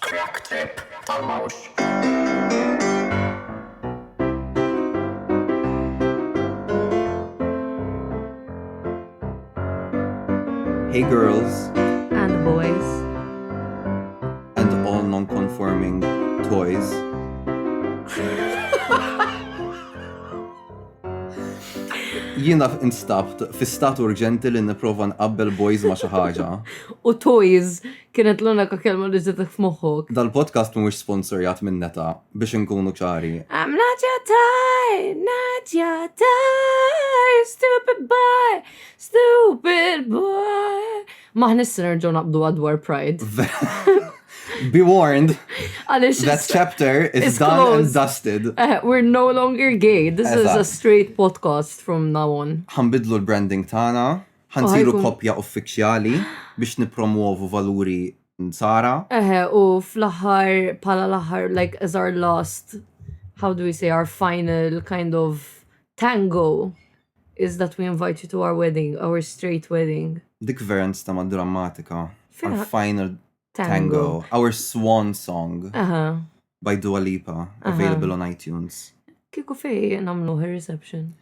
Crack trip ta' mhux. Hey girls. And boys. And all non-conforming toys. Jiena instabt fi stat urġenti li nipprova nqabbel boys ma' xi ħaġa. U toys Kienet l-unika kelma li ġetek f'moħħok. Dal-podcast mhuwiex sponsorjat minn neta biex inkunu ċari. I'm not your tie, not your tie, stupid boy, stupid boy. Maħni s-sinerġu naqbdu għadwar pride. Be warned. Għalix. That chapter is done closed. and dusted. Uh, we're no longer gay. This Eżat. is a straight podcast from now on. Ħambidlu l-branding tana. Ħansiru Ħajkun- koppja uffiċjali biex nippromwovu valuri nsara. Eħe, u fl-aħħar, pala l-aħħar, like, as our last, how do we say, our final kind of tango is that we invite you to our wedding, our straight wedding. Dik vera nista ma drammatika. Our Vera- final Tango. tango. Our swan song Aha, by Dua Lipa, available on iTunes. kiku fej namluħ il-reception.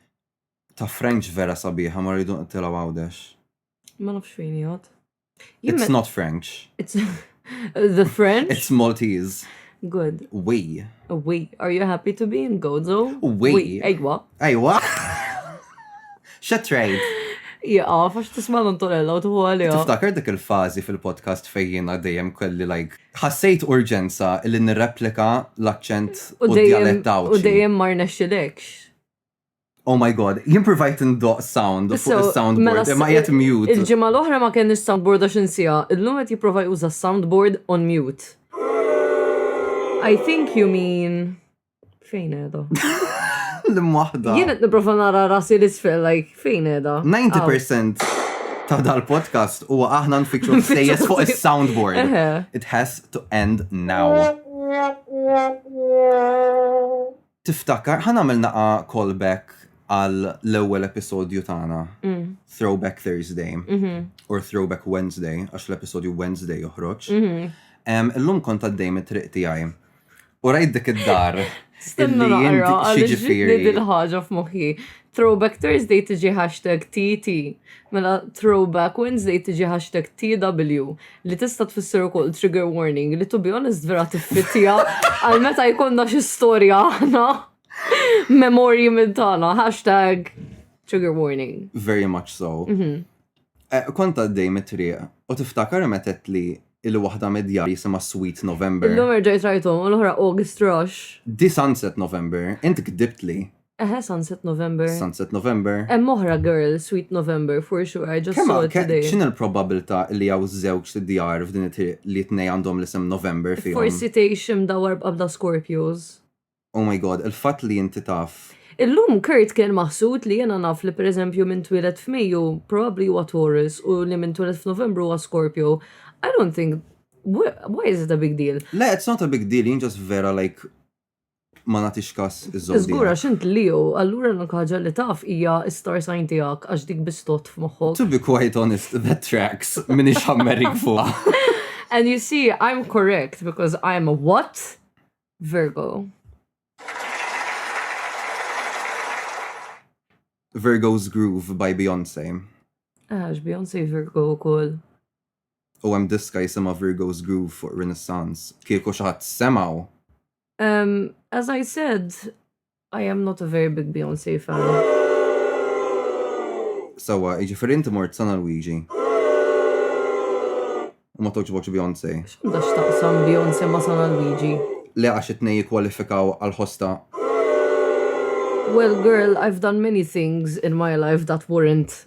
Ta French vera sabiħa ma rridu nqtilgħu Għawdex. Ma nafx fejn jgħod. It's not French. It's the French? It's Maltese. Good. We. We. Are you happy to be in Gozo? We. Ejwa. Ejwa. Xa trade? Iqa, fax tisma l-antonella u tuħu għalija. Tiftakar dik il-fazi fil-podcast fejjina dejjem kelli like. Ħassejt urġenza li nirreplika l-akċent u d-dialett U dejjem marna xilekx. Oh my god, jien provajt ndoq sound fuq Sew, il-soundboard, mela imma s- jgħet mute. Il-ġimgħa l-oħra ma kenniex soundboard għax insija. Illum qed jipprova juża soundboard on mute. I think you mean fejn qiegħda? L-im wahda. Jien qed nipprova nara rasi l-isfel like fejn qiegħda? 90% ta' dal-podcast huwa aħna nfittxu Nfittxu l-sejjes fuq l-sejjes. il-soundboard. Eħe. It has to end now. Tiftakar, ħa nagħmel naqgħa call back għal l-ewwel episodju tagħna, Throwback Thursday, or Throwback Wednesday, għax l-episodju Wednesday joħroġ. Illum kont għaddej mit-triq tiegħi. U rajt dik id-dar. Stenna naqra, għal-ġifiri. Dil-ħagġa f'moħħi. Throwback Thursday tiġi hashtag TT. Mela Throwback Wednesday tiġi hashtag TW. li tista' tfisser ukoll trigger warning li to be honest vera tiffittija għal meta jkollna xi storja aħna memorji minn tagħna hashtag trigger warning. Very much so. Mhm. Eh, Kont għaddej mit-triq u tiftakar meta qed li il-waħda mid-djar jisimha Sweet November. Illum erġajt rajthom u l-oħra August Rush. Di Sunset November, int kdibt li. Eħe, Sunset November. Sunset November. Hemm oħra girl, Sweet November, for sure, I just Kemm saw it ke- today. x'inhi l-probabilità li hawn żewġ djar f'din it-triq li t-tnej għandhom l-isem November fihom? Forsi tgħix imdawwar b'qabda Scorpios. Oh my God, il-fatt li inti taf. Illum Kurt kien maħsud li jiena naf li pereżempju min twieled f'Mejju probabbli huwa Taurus u li min twieled f'Novembru huwa Scorpio. I don't think wh- why is it a big deal? Le, it's not a big deal, jien just vera like ma nagħtix kas iż-żomm. Żgur għax int Leo, allura l-unika ħaġa li taf hija star sign tiegħek għax dik bistot f'moħħok. To be quite honest, that tracks min ixammerik fuqha. And you see, I'm correct because I'm a what? Virgo. Virgo's Groove by Beyoncé. Għax, Beyoncé Virgo u koll. U hemm diska jisimha Virgo's Groove fuq Renaissance. Kieku xi ħadd semgħu! Ehm, as I said, I am not a very big Beyonce fan. Sewwa, jiġifieri inti mort San Alwiġi. U ma togħġbokx Beyonce. X'għandha x'taqsam Beyonce ma' San Alwiġi? Le għax it-tnejn jikkwalifikaw għall-ħosta. Well girl, I've done many things in my life that weren't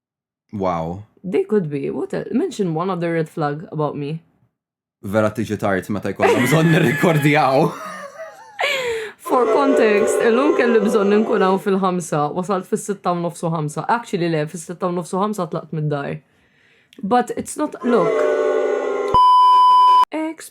Wow. They could be. What a, mention one other red flag about me. Vera tiġi tard meta jkollna bżonn nirrikordjaw. For context, illum kelli bżonn nkun hawn fil-ħamsa, wasalt fis-sitta u nofsu ħamsa. Actually le, fis-sitta u nofsu ħamsa tlaqt mid-dar. But it's not, look. Ex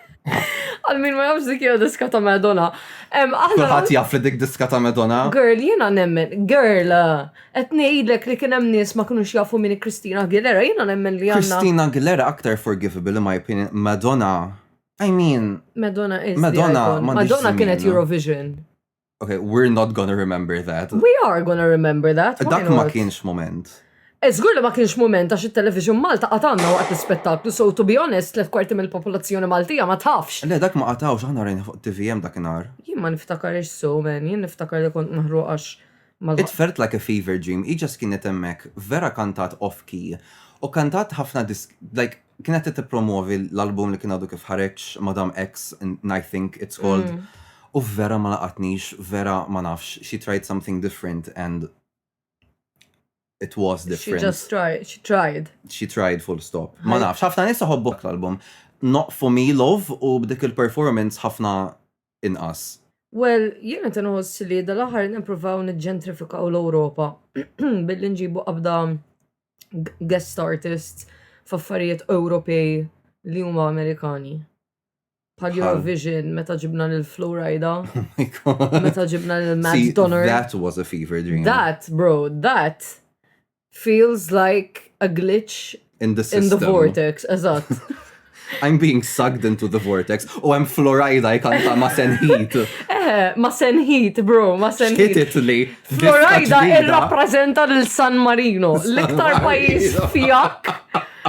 Għal min ma jafx dik hija diska ta' Madonna. Em, aħna Kulħadd jaf li dik diska ta' Madonna. Girl, jiena nemmen, girl, qed ngħidlek li kien hemm nies ma kinux jafu min hi Christina Aguilera, jiena nemmen li għandna Christina Aguilera aktar forgivable in my opinion. Madonna. I mean, Madonna is the Madonna icon. m'għandix Madonna kienet żmien. Eurovision. Okay, we're not gonna remember that. We are gonna remember that. Dak ma kienx moment. Eżgur li ma kienx moment għax il-television Malta għatanna waqt l-spettaklu, so to be honest, tlet kwarti mill-popolazzjoni Maltija ma tafx. Le, dak ma għatawx, aħna rajna fuq TVM dak nar. Jien ma niftakar ix so, man, jien niftakar li kont maħru għax. It felt like a fever dream, iġas kienet emmek vera kantat off-key, u kantat ħafna disk, like, kienet qed tippromwovi l-album li kien għadu kif ħareġ Madam X, I think it's called, u vera ma laqatnix, vera ma nafx, she tried something different and it was different. She just tried, she tried. She tried full stop. Ma nafx, ħafna nisa ħobbok l-album. Not for me love u b'dik il-performance ħafna inqas? Well, jien qed inħoss li dal-aħħar qed nippruvaw niġġentrifikaw l-Ewropa billi nġibu qabda guest artists f'affarijiet Ewropej li huma Amerikani. Bħal Eurovision, meta ġibna lil Florida. Oh meta ġibna lil Matt Donner. That was a fever dream. That, bro, that. Feels like a glitch in the, in the vortex, eżatt. I'm being sucked into the vortex. U hemm Florida jkanta ma' Sen Heat. Eh, ma' Sen Heat, bro, ma' Sen Heat. Kitit li. Florida irrappreżenta l San Marino, l-iktar pajis fjak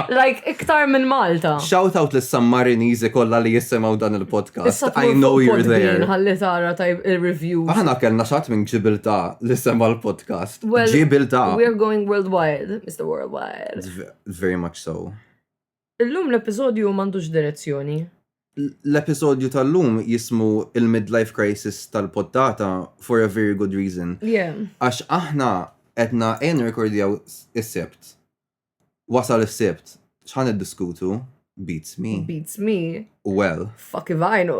Like, iktar minn Malta. Shout out lis San Marinizi kollha li jissemgħu dan il-podcast. I know you're there. Ħalli tara tajb il-review. Aħna kellna xat minn ġibilta li semma l-podcast. Ġibilta. We're going worldwide, Mr. Worldwide. Very much so. Illum l-episodju m'għandux direzzjoni. L-episodju tal-lum jismu il-midlife crisis tal-poddata for a very good reason. Yeah. Għax aħna edna en rekordjaw is-sebt Wasal is-sibt, x'ħan niddiskutu? Beats me. Beats me. Well. Fuck ivajnu.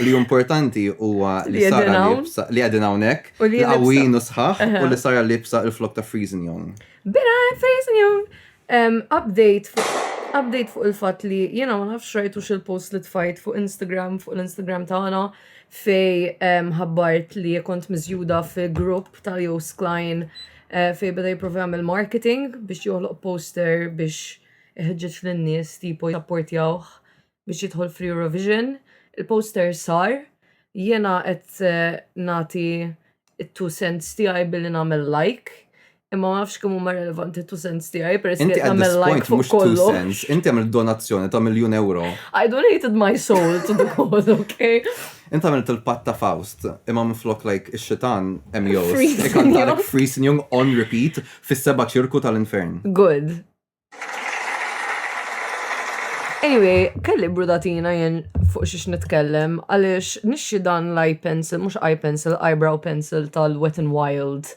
li importanti huwa li sara libsa li għadin hawnhekk, li għawin u sħaħ u li sara libsa il-flok ta' Freezing Young. Bira Freezing Young. Update update fuq il-fatt li jiena ma nafx rajtu xil-post li tfajt fuq Instagram fuq l-Instagram tagħna fej ħabbart li kont miżjuda fi grupp tal-Jos Klein Fejn beda jipprova jagħmel marketing biex joħloq poster biex iħeġġeġ lin-nies tipo japportjawh biex jidħol fl-Eurovision. Il-poster sar, jiena qed nagħti it-two cents tiegħi billi nagħmel like, imma ma nafx kemm huma relevanti two cents tiegħi peress li nagħmel like fuq kollu. Inti għamil donazzjoni ta' miljun euro. I donated my soul to the cause, okay? Int għamilt il-patt ta' Faust, imma minflok like ix-xitan hemm jgħożż, ikantalek Friesenjung on repeat fis-seba' ċirku tal-infern. Good. Anyway, kelli brudatina jien fuq xiex nitkellem għaliex nixxi dan l-eye pencil, mhux eye pencil, eyebrow pencil tal-Wet n Wild.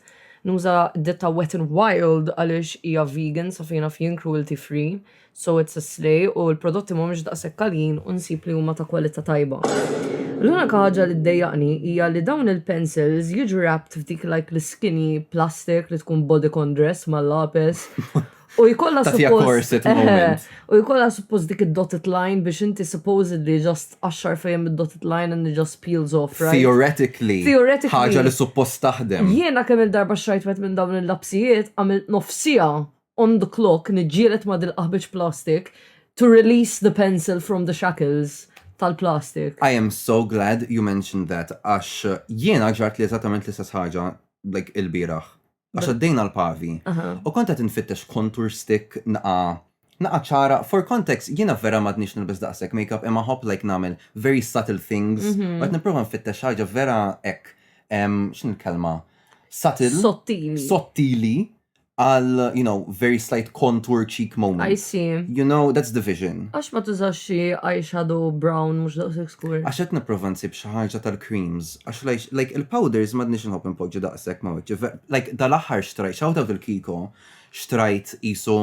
Nuża ditta Wet n Wild għaliex hija vegan sa fejna f'jien cruelty free. so it's a slay u l-prodotti mhumiex daqshekk għaljin u nsib li huma ta' kwalità tajba. L-unika ħaġa li ddejjaqni hija li dawn il-pencils jiġu wrapped f'dik like l-skinny plastic li tkun bodycon dress mal-lapes U jkollha suppost. U jkollha suppost dik id-dotted line biex inti supposedly just għaxxar fejem id-dotted line and it just peels off, right? Theoretically. Theoretically. Ħaġa li suppost taħdem. Jiena kemm il-darba xrajt wet minn dawn il-lapsijiet għamilt nofsija on the clock niġġieled ma' dil-qaħbiċ plastik to release the pencil from the shackles tal-plastik. I am so glad you mentioned that għax jiena ġartli eżattament l-istess ħaġa like ilbieraħ. Għax għaddejna l-pavi u kont qed infittex contour stick naqa' naqa' ċara, for context jiena vera m'għadnix nilbes daqshekk makeup imma nħobb like nagħmel very subtle things u qed nipprova nfittex xi ħaġa vera hekk x'inhi l-kelma? Subtle. Sottili. Sottili għal, you know, very slight contour cheek moment. I see. You know, that's the vision. Għax ma tużax xi eyeshadow brown mhux daqshekk skur. Għax qed nipprova nsib xi ħaġa tal-creams, għax like il-powders m'għadniex inħobb inpoġġi daqshekk ma' wiċċi. Like dal-aħħar xtrajt, shout out lil Kiko, xtrajt qisu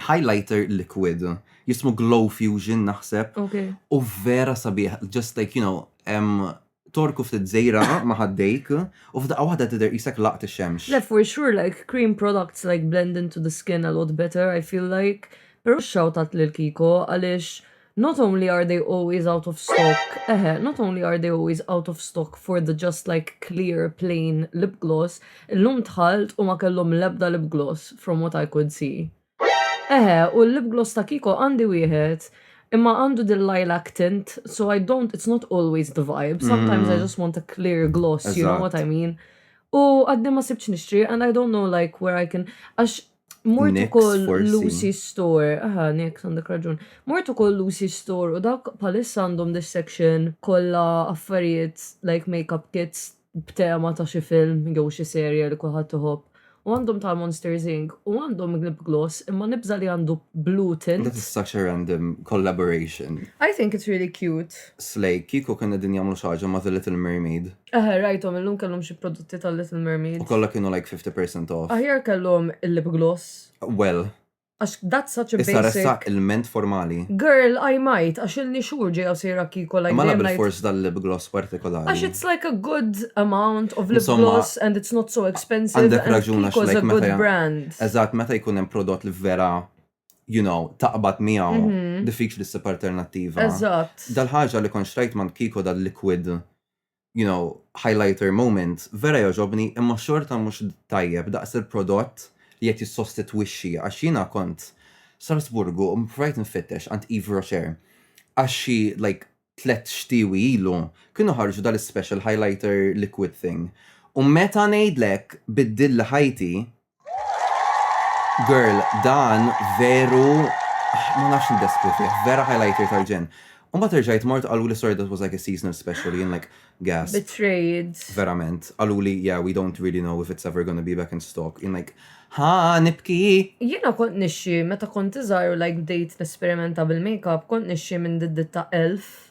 highlighter liquid jismu Glow Fusion naħseb. U vera sabiħ, just like, you know, um, torku ftit zejra ma ħaddejk u f'daqqa waħda tidher isek laqt ix-xemx. Le for sure like cream products like blend into the skin a lot better I feel like. Però shout out lil Kiko għaliex Not only are they always out of stock, eħe, not only are they always out of stock for the just like clear plain lip gloss, illum dħalt u ma kellhom l-ebda lip gloss from what I could see. Eħe, u l-lip gloss ta' Kiko għandi wieħed, imma għandu din lilac tint, so I don't, it's not always the vibe, sometimes I just want a clear gloss, you know what I mean? U għadni ma sibtx nixtri and I don't know like where I can, għax Mort ukoll Lucy Store, aha, Nix għandek raġun. Mort ukoll Lucy Store u dak palissa għandhom this section kollha affarijiet like makeup kits b'tema ta' xi film jew xi serje li kulħadd iħobb. U għandhom ta' Monsters Inc. U għandhom lip gloss imma nibża li għandu blue tint. That is such a random collaboration. I think it's really cute. Slay, kiku kena din jamlu xaġa ma' The Little Mermaid. Eh, rajtom, illum kellhom xi prodotti tal-Little Mermaid. U kollha kienu like 50% off. Aħjar kellhom il-lip gloss. Well. Għax that's such a basic. Issa ressa il-ment formali. Girl, I might, għax il-ni xur ġej għaw sejra kiko like. Ma nabel force dal-lip gloss partikolari. Għax it's like a good amount of lip gloss and it's not so expensive. Għandek raġuna xlek. It's a good brand. Eżat, meta jkun hemm prodott li vera you know, taqbad miegħu mhm. diffiċli s-sib alternattiva. Eżatt. Dal-ħaġa li konxtrajt man kiko dal-liquid you know, highlighter moment, vera jogħġobni imma xorta mhux tajjeb daqs il-prodott li qed jissostitwixxi għax jiena kont Salzburgu u ppruvajt infittex għand Yves Rocher għax xi like tlett xtiewi ilu kienu ħarġu dal-ispecial highlighter liquid thing u meta ngħidlek biddilli ħajti Girl, dan veru ma nafx ndeskru fih, vera highlighter tal-ġenn. Imbagħad irġajt mort qaluli sorry that was like a seasonal special, jien like, gasp. Betrayed. Verament. Qaluli yeah we don't really know if it's ever gonna be back in stock, jien like, ha, nibki! Jiena kont nixxi meta kont iżgħar u like bdejt nesperimenta bil-makeup kont nixxi minn diddit ta' elf.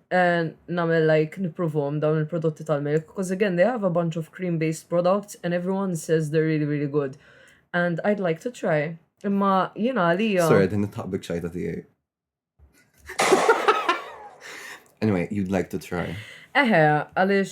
namel like nipprovhom dawn il-prodotti tal-milk because again they have a bunch of cream based products and everyone says they're really really good and I'd like to try. Imma jiena għalija. Sorry, din nitħaqbik xajta tiegħi. Anyway, you'd like to try. Eħe, għaliex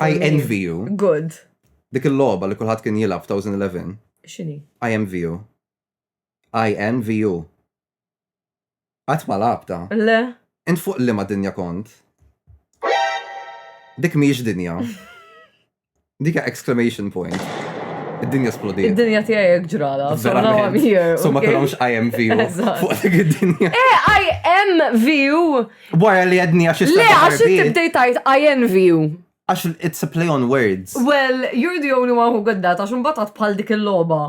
I envy you. Good. Dik il-logħba li kulħadd kien jilgħab f'2011. X'inhi? I envy you. I envy you. Qatt ma labta. Le. Int fuq li ma dinja kont. Dik mhijiex dinja. Dik exclamation point. Id-dinja splodi. Id-dinja tiegħi jekk ġrala. So now I'm here. So ma kellhomx I envy you. Fuq dik id-dinja. Eh, I envy you. Wara li għednija xi Le, għax inti bdejt tajt INVU. Għax it's a play on words. Well, you're the only one who got that, għax mbatat bħal dik il-loba.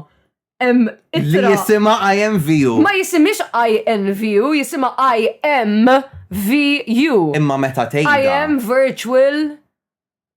Li jisima IMVU. Ma jisimix INVU, jisima IMVU. Imma meta tgħid. I am virtual.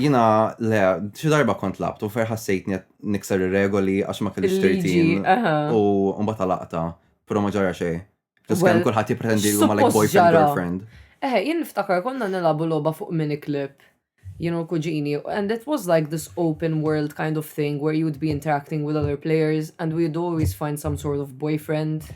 Jina, le, xi darba kont labtu, fer ħassejtni nikser ir-regoli għax ma kellix tirtin. U mbagħad laqta, però ma ġara xejn. Ġas kemm kulħadd jippretendi li huma like boyfriend girlfriend. Eħe, jien niftakar konna nilabu logħba fuq mini clip you know, kuġini, and it was like this open world kind of thing where you'd be interacting with other players and we'd always find some sort of boyfriend.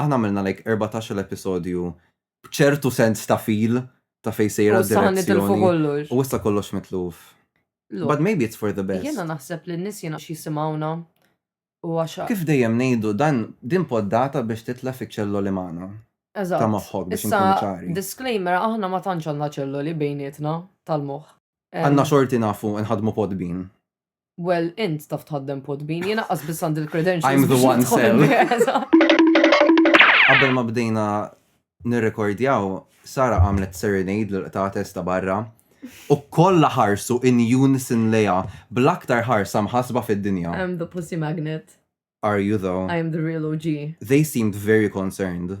Aħna għamilna like erbatax-il episodju b'ċertu sens ta' feel ta' fejn sejra d-direzzjoni. U issa nitilfu kollox. U issa kollox mitluf. But maybe it's for the best. Jiena naħseb li n-nies jiena x'jisimgħuna u għax. Kif dejjem ngħidu dan din poddata biex titlef iċ-ċelloli magħna. Eżatt. Ta' moħħok biex inkunu ċari. Issa disclaimer aħna ma tantx għandna ċelloli bejnietna tal-moħħ. Għandna xorti nafu nħaddmu Podbean. Well, int taf tħaddem podbin, jena qas biss għandi l-credentials. I'm the one cell. Qabel ma bdejna nirrekordjaw, Sara għamlet serenade l-qta testa barra u kollha ħarsu in unison leja bl-aktar ħarsa mħasba fid-dinja. I'm the pussy magnet. Are you though? I am the real OG. They seemed very concerned.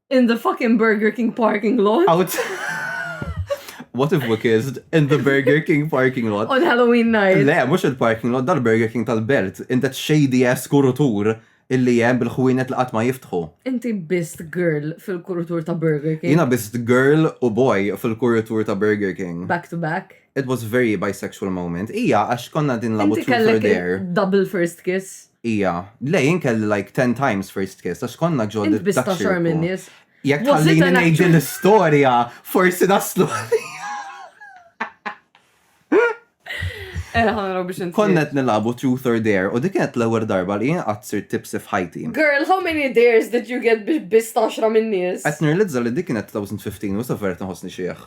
In the fucking Burger King parking lot. Out. What if we kissed in the Burger King parking lot? On Halloween night. Le, mux il-parking lot, dal-Burger King tal-belt. In that shady ass kurutur illi jem bil-ħwienet li qatt ma jiftħu. Inti bist girl fil-kurutur ta' Burger King. Jina bist girl u boy fil-kurutur ta' Burger King. Back to back. It was very bisexual moment. Ija, għax konna din labu truth or dare. Inti kellek double first kiss. Hija, le jien kelli like ten times first kiss għax konna ġo Int biss ta' xorm in-nies. Jekk tħallini ngħid l-istorja, forsi naslu Konnet nilabu truth or dare u dik kienet l-ewwel darba li jien qatt sirt tipsi f'ħajti. Girl, how many dares did you get biex biss taxra minn nies? Qed nirlizza li dik kienet 2015 u sa vert nħossni xiħ.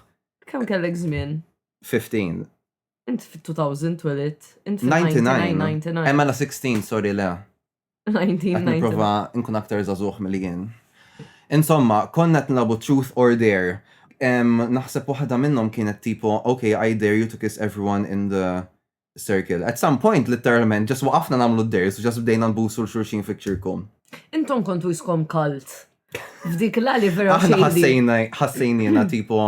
Kemm kellek żmien? 15. Int fit-2000 twelidt, int fit-1999. Emma la 16, sorry le. 1999. Niprofa nkun aktar zazuħ mill jien. Insomma, konna t-nabu truth or dare. Naħseb waħda minnom kienet tipo, ok, I dare you to kiss everyone in the circle. At some point, literalment, ġas waqafna namlu d-dares, ġas bdejna nbusu l-xurxin fi ċirku. Intom kontu jiskom kalt. F'dik l-għali vera. Aħna ħassejna, ħassejnina tipo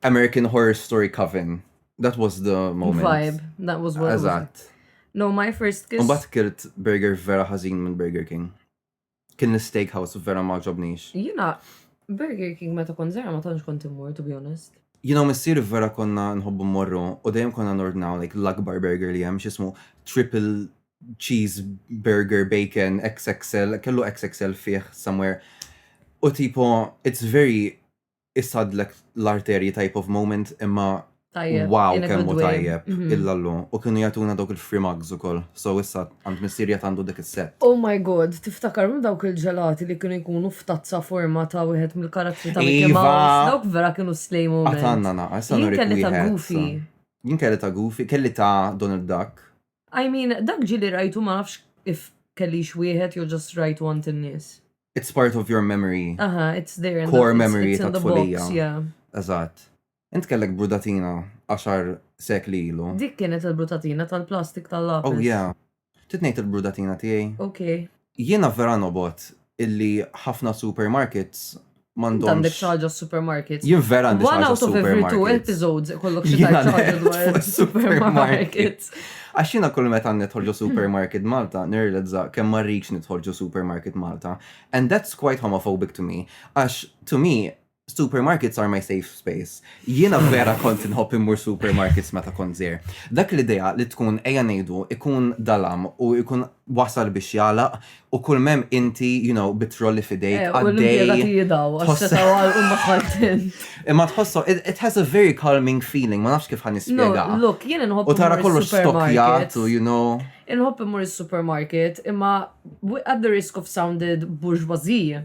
American Horror Story Coven. That was the moment. Vibe, that was what Eżatt. No, my first kiss. Mbatt kirt burger vera ħażin minn Burger King. Kien l-steakhouse vera ma ġobnix. Jina, Burger King meta kon zera ma tantx kont immur, to be honest. Jina missir vera konna nħobbu morru u dejjem konna nordnaw like l-akbar burger li hemm x'ismu triple cheese burger bacon XXL, kellu XXL fih somewhere. U tipo, it's very isadlek l-arterji type of moment imma wow kemmu tajjeb mhm. illallu. U kienu jatuna dawk il-free mugs u koll. So issa għand missirja għandu dik il-set. Oh my god, tiftakar minn dawk il-ġelati li kienu jkunu f'tazza forma ta' wieħed mill-karattri ta' Mickey iva. Mouse. Dawk vera kienu slejmu. Għatanna na, issa kelli ta' Goofy. Jien kelli ta' Goofy, kelli ta' Donald Duck. I mean, dak ġieli rajtu ma nafx if kellix wieħed jew just rajtu għand in-nies. It's part of your memory. Aha, it's there. in the- Core it's- memory it's in the tat-tfulija. box, yeah. Eżatt. Int kellek brudatina għaxar sekli ilu. Dik kienet il-brutatina tal-plastik tal-lapis. Oh yeah. Ftit ngħid il-brudatina tiegħi. Okay. Jiena vera nobgħod illi ħafna supermarkets m'għandhomx. Int għandek xi ħaġa supermarkets. Jien vera għandi xi ħaġa supermarkets. One out of every two episodes ikollok xi ħaġa dwar supermarkets. Għax jiena kull meta nidħol ġo supermarket Malta, nirrealizza kemm ma rridx nidħol ġo supermarket Malta. And that's quite homophobic to me. Għax to me, Supermarkets are my safe space. Jiena vera kont inħobb immur supermarkets meta kont żgħir. Dak l-idea li tkun ejja ngħidu ikun dalam u jkun wasal biex jagħlaq u kull mem inti, you know, bitrolli fidejk eh, għaddej. Imma tħossu, it has a very calming feeling, ma nafx kif ħan nispjega. Look, jien inħobb. U tara kollu stokjat u you know. Inħobb immur is-supermarket, imma at the risk of sounded bourgeoisie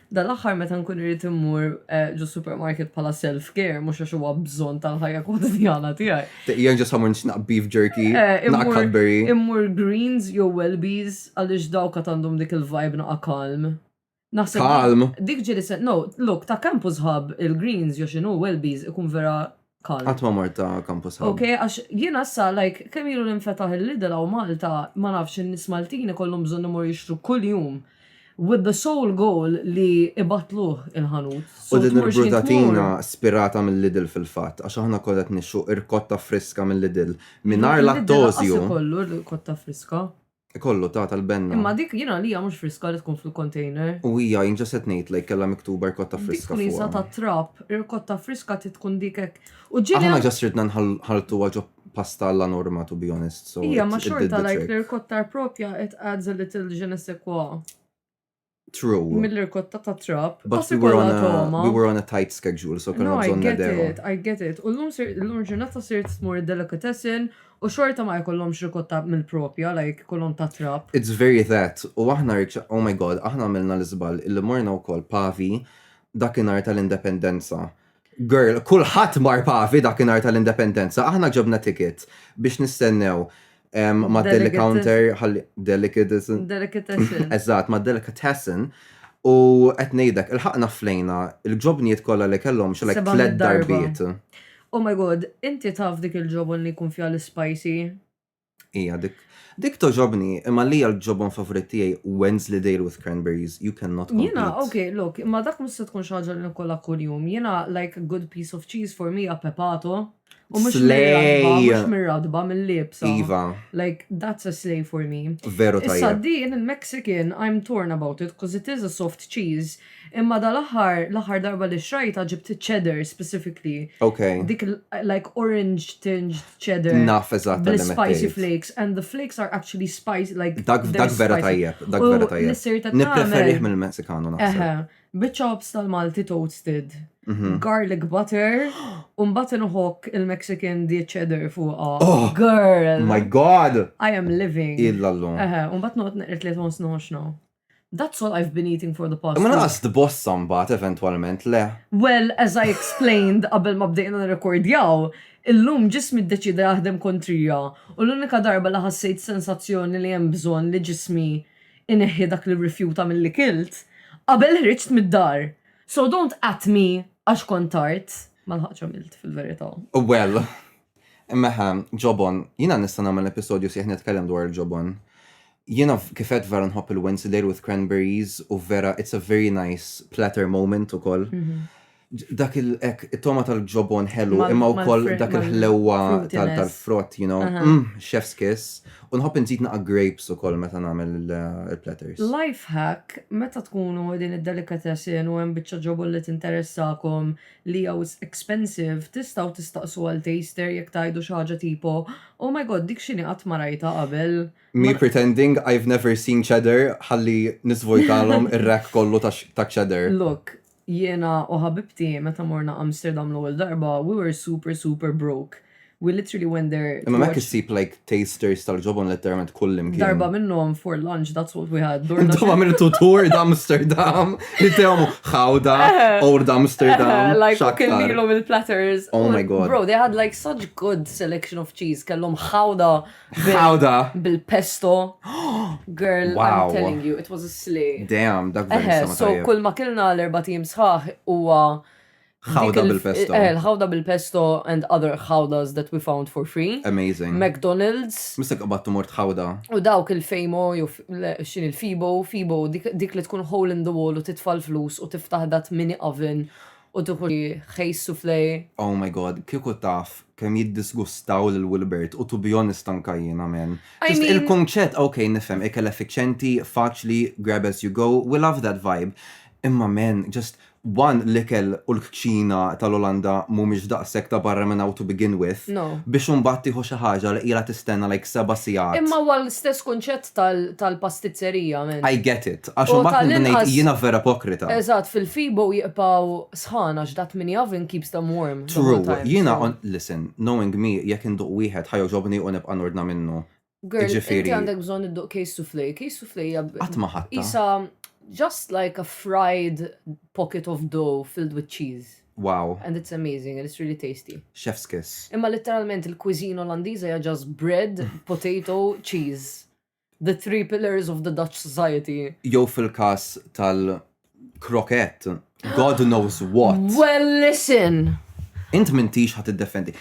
Dal-aħħar meta nkun irrid immur eh, ġo supermarket bħala self-care, mhux għax huwa bżonn tal-ħajja kwotidiana tiegħi. Jien ġo someone xnaq beef jerky, eh, naq Cadbury. Immur greens jew Welbies għaliex dawk għandhom dik il-vibe naqa kalm. Naħseb. Kalm. Dik ġiri se, no, look, ta' kampu zħab il-greens jew xinu Welbies ikun vera Kal. Qatt ma mort ta' Campus Hub. Ok, għax jiena issa like kemm ilu li nfetaħ il-Lidl hawn Malta, ma nafx in-nies Maltin ikollhom bżonn imorru jixtru kuljum with the sole goal li ibattluh il-ħanut. U din il-brutatina spirata mill-Lidl fil-fatt, għax aħna kollha qed nixtru irkotta friska mill-Lidl mingħajr lattosju. L-Lidl laqqas ikollu rkotta friska. Ikollu ta' tal-benna. Imma dik jien għalija mhux friska li tkun fil-container. U hija jien ġa se tnejt lejk kellha miktuba rkotta friska fuqha. Dik ħliesa tat-trab, irkotta friska trid tkun dik hekk. U ġieli. Aħna ġa sirtna nħalltuha ġo pasta alla norma to be honest so it did the trick. Ija ma xorta like l-irkotta propja it adds a little je ne sais quoi. True. Mill-irkotta ta' trap. But we were, on a, we were on a tight schedule, so kena bżon nedew. I get it, I get it. U l-lum ġurnata sirt smur delicatessen u xorta ma jkollom xrikotta mill-propja, like kollom ta' trap. It's very that. U aħna rikxa, oh my god, aħna għamilna l-izbal, il-li morna u koll pavi dakinar tal-independenza. Girl, kulħadd mar Pavi dakinhar tal-Independenza, aħna ġobna ticket biex nistennew mad-deli counter ħalli delicatessen. Delicatessen. Eżatt, mad-delicatessen u qed ngħidlek ilħaqna flejna l-ġobnijiet kollha li kellhom xi like tliet darbiet. Oh my God, inti taf dik il-ġobon li jkun fiha l-ispajsi? Ija dik. Dik toġobni, imma li għal ġobon favorit tijaj Wednesday Dale with Cranberries, you cannot compete. Jena, ok, look, imma dak mus se tkun xaġa li nkolla kull-jum. Jena, like, a good piece of cheese for me, a pepato. U mux mirradba, mill-libsa. Iva. Like, that's a slay for me. Veru tajja. Issa din, il-Mexican, I'm torn about it, cause it is a soft cheese. Imma dal-aħħar, l-aħħar darba li xrajta ġibt cheddar specifically. Ok. Dik like orange tinged cheddar. Naf eżatt. The spicy flakes and the flakes are actually spicy like. Dak dak vera tajjeb, dak vera tajjeb. Nisserta tajjeb. Nippreferih mill-Meksikanu naħseb. Bit-chops tal-Malti toasted, mhm. garlic butter, u mbagħad inħokk il-Mexican di cheddar fuqha. Oh! Girl! My God! I am living. Illa llum. Eħe, u mbagħad noqgħod neqret li tħoss noxna. That's all I've been eating for the past. Ma naqas tbossa mbagħad eventwalment le. Well, as I explained qabel ma bdejna nirrekordjaw, illum ġismi ddeċieda jaħdem kontrija u l-unika darba li ħassejt sensazzjoni li hemm bżonn li ġismi jneħħi dak li rrifjuta milli kilt, qabel ħriġt mid-dar. So don't at me għax kont tard. Ma lħaqtx għamilt fil-verità. Well. Mela, ġobon, jiena nista' nagħmel episodju sħiħ nitkellem dwar il-ġobon. Jiena kif għedt vera nħobb il-Wensleydale with cranberries u vera it's a very nice platter moment ukoll. Mhm. Dak il ek it-toma tal-ġobon ħelu imma wkoll dak il-ħlewwa tal-frott, you know, mm, chef's kiss. U nħobb inżid naqa' grapes ukoll meta nagħmel il-platters. Life hack, meta tkunu din id-delicatessen u hemm biċċa ġobon li tinteressakom Leo it's expensive, tistgħu tistaqsu għal taster jekk tgħidu xi ħaġa tipo, oh my God dik x'inhi qatt ma rajtha qabel. Me pretending I've never seen cheddar ħalli niżvojtalhom ir-rack kollu ta' cheddar. Look, jiena u ħabibti meta morna Amsterdam l-ewwel darba we were super super broke. We literally went there. Imma ma kissib like tasters tal-ġobon letteralment kullim kien. Darba minnom for lunch, that's what we had. Darba minnu tu tour d'Amsterdam, jittewmu xawda, eh. or d'Amsterdam. Eh, like, kellilom il-platters. Oh my god. Bro, they had like such good selection of cheese. Kellom xawda. Xawda. Bil-pesto. Girl, wow. I'm telling you, it was a slay. Damn, dak eh, So, kull ma kellna l-erba team sħaħ huwa. Ħawda bil-pesto. Eh, l-ħawda bil-pesto and other ħawdas that we found for free. Amazing. McDonald's. Mista qabattu mort ħawda. U dawk il-fejmo, jew xin il-fibo, fibo, dik li tkun hole in the wall u titfall flus u tiftaħ dat mini oven u tuħu ħejs suflej. Oh my god, kieku taf kem jiddisgustaw l Wilbert u to be honest anka jiena men. Il-konċett, ok, nifhem, ikel effiċenti, faċli, grab as you go, we love that vibe. Imma men, just one l-ikel u l-kċina tal-Olanda mhumiex daqshekk ta' barra minn hawn to begin with, biex imbagħad tieħu xi ħaġa li ilha tistenna like seba' sigħat. Imma huwa l-istess kunċett tal-pastizzerija, man. I get it. Għax imbagħad nibda ngħid jiena vera ipokrita. Eżatt, fil-Febo jibqgħu sħan għax dak mini oven keeps them warm. True. Jiena, listen, knowing me, jekk induq wieħed ħa jogħġobni u nibqa' nordna minnu. Girl, Jiġifieri- inti għandek bżonn idduq case soufflé. Case soufflé hija b- Qatt ma ħadta. isa just like a fried pocket of dough filled with cheese. Wow, And it's amazing and it's really tasty. chef's kiss. Imma letteralment il-cuisine Olandiża hija just bread, potato, cheese. The three pillars of the Dutch society. Jew fil-każ tal- krokett, God knows what. Well, listen. Int mintix ħat id-defendi.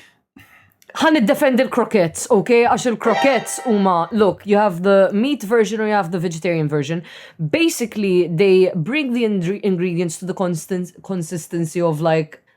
Ħan id-defendi l-krokets, ok? Għax il-krokets huma, look, you have the meat version or you have the vegetarian version. Basically, they bring the ingredients to the consistency of like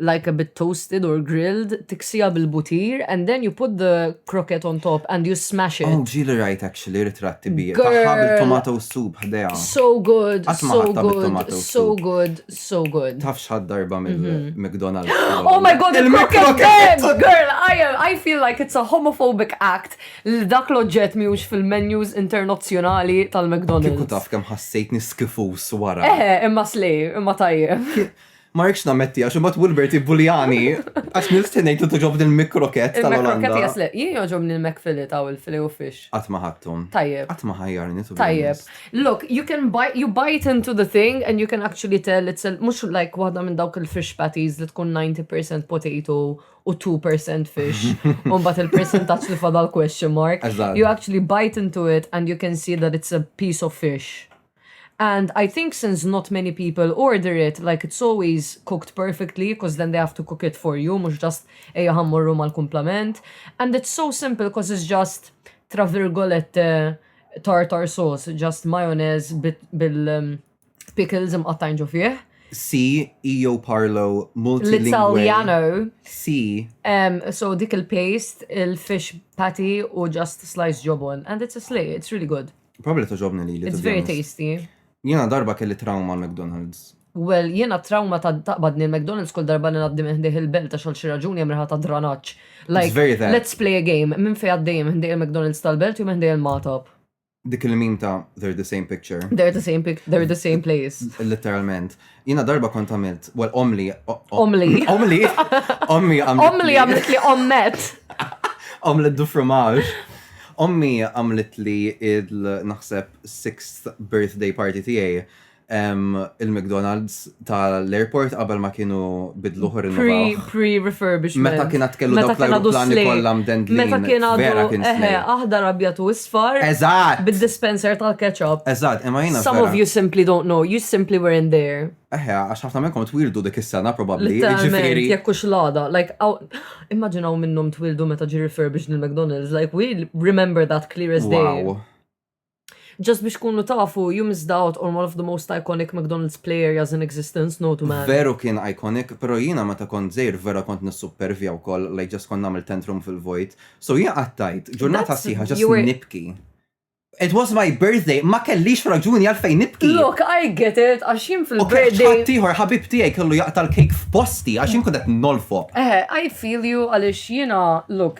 like a bit toasted or grilled, tiksija bil butir and then you put the croquette on top and you smash it. Oh, ġili rajt actually ritrat tibija. Taħħa bil-tomato soup ħdeja. So good, so good, so good, so good. Taf xħad darba minn mhm. McDonald's. Oh my god, il-croquette! Girl, I, am, I feel like it's a homophobic act li dak l-oġġett miux fil-menus internazzjonali tal-McDonald's. Kiku taf kem ħassejt niskifus wara. Eh, imma slej, imma tajjeb. Ma rridx nammetti għax imbagħad Wilbert jibbuljani għax nil stennejt li toġobni l-mikroket tal-Olanda. Il-mikroket jasle, jien joġobni l-mekfili ta' u l-fili u fish. Qatt ma ħadthom. Tajjeb. Qatt ma ħajjarni tu. Tajjeb. Look, you can bite, you bite into the thing and you can actually tell it's a, mhux like waħda minn dawk il-fish patties li tkun 90% potato u 2% fish. U mbagħad il-percentaġġ li fadal question mark. You actually bite into it and you can see that it's a piece of fish. And I think since not many people order it, like it's always cooked perfectly coz then they have to cook it for you mhux just ejja ħa mmorru mal-kumplament. And it's so simple coz it's just tra virgolette tartar sauce, just mayonnaise bil-pickles imqattgħin ġo fih. See, io parlo multilingue. L-Italjano. See. Um, so dik il-paste, il-fish patty u just slice jobon. And it's a slay, it's really good. Probabli toġobni li li. It's very tasty. Jena darba kelli trauma McDonald's. Well, jena trauma ta' taqbadni il-McDonald's kull darba li naddi minn il-belt għax xi raġuni hemm ta' dranaċ. Like, very that. let's play a game. Minn fej għaddej minn il-McDonald's tal-belt u minn il-matop. Dik il-mim ta' they're the same picture. They're the same pic, they're the same place. Literalment. Jina darba kont għamilt, well, omli. Omli. Omli. Ommi għamilt. Omli għamilt li ommet. Omlet du fromage. Ommi għamilt li il-naħseb sixth birthday party tijaj il-McDonald's tal-airport qabel ma kienu bidluħ rinnovaw. Pre-refurbishment. Meta kien kellu dawk l-aeroplani kollha mdendlin. Meta kien għadu eħe, aħdar abjad u isfar. Eżatt. Bid-dispenser tal-ketchup. Eżatt, imma jiena. Some of you simply don't know, you simply were in there. Eħe, għax ħafna minnkom twildu dik is-sena probabbli. Ġifieri. Jekk hux l-għada, like immaġinaw minnhom twildu meta ġi refurbished il-McDonald's, like we remember that clear as day. Wow. Just biex kunu tafu, you missed out on one of the most iconic McDonald's play areas in existence, no to man. Veru kien iconic, pero jiena meta kont żgħir vera kont nissuppervja wkoll, like just kont nagħmel tantrum fil-vojt. So jiena qattajt ġurnata sħiħa just nibki. It was my birthday, ma kellix raġuni għalfejn nibki. Look, I get it, għax jien fil-birthday. Ok, ċatt tiħor, ħabib tiegħi kellu jaqta l-kejk f'posti, għax jien kudet nolfo. Eh, I feel you għaliex jiena, look,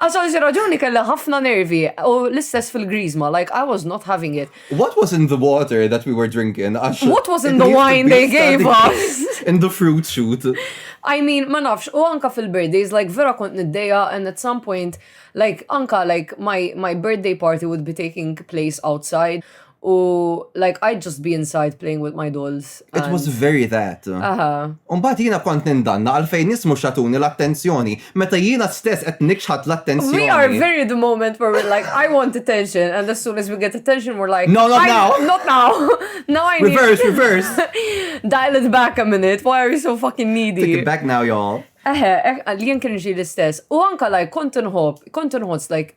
Għax għal xi raġuni kellha ħafna nervi u l-istess fil-griżma, like I was not having it. What was in the water that we were drinking? What was in the wine they gave us? In the fruit shoot. I mean, ma nafx, u anka fil-birthdays, like vera kont niddeja and at some point, like anka like my, my birthday party would be taking place outside. U like I'd just be inside playing with my dolls. It was very that. Aha. Umbat jiena kont nindanna għal fejn nismu xatuni l-attenzjoni meta jiena stess qed nikxħat l-attenzjoni. We are very the moment where we're like I want attention and as soon as we get attention we're like No not now. Not now. now I need Reverse, reverse. Dial it back a minute. Why are you so fucking needy? Take it back now y'all. Eħe, eh, li jien kien ġi l-istess. U anka like kont nħobb, kont nħoss like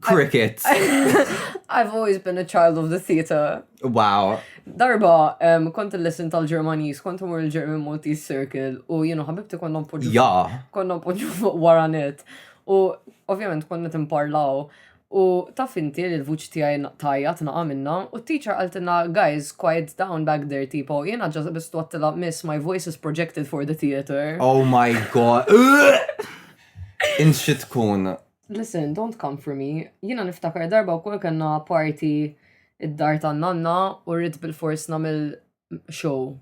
Cricket. I've always been a child of the theater. Wow. Darba, um, kont il-lesson tal-Ġermanis, kont mur il-German Maltese Circle, u jenu ħabibti konna mpoġu. Ja. Konna mpoġu fuq waranet. U ovvjament konna timparlaw. U taf inti li l-vuċi tijaj tajja tnaqa minna, u t-teacher għaltina, guys, quiet down back there, tipo, jena ġazza bistu għattila, miss, my voice is projected for the theater. Oh my god. Inxi tkun. Listen, don't come for me. Jiena niftakar darba wkoll kellna party id-dar tan-nanna u rrid bil-fors nagħmel show.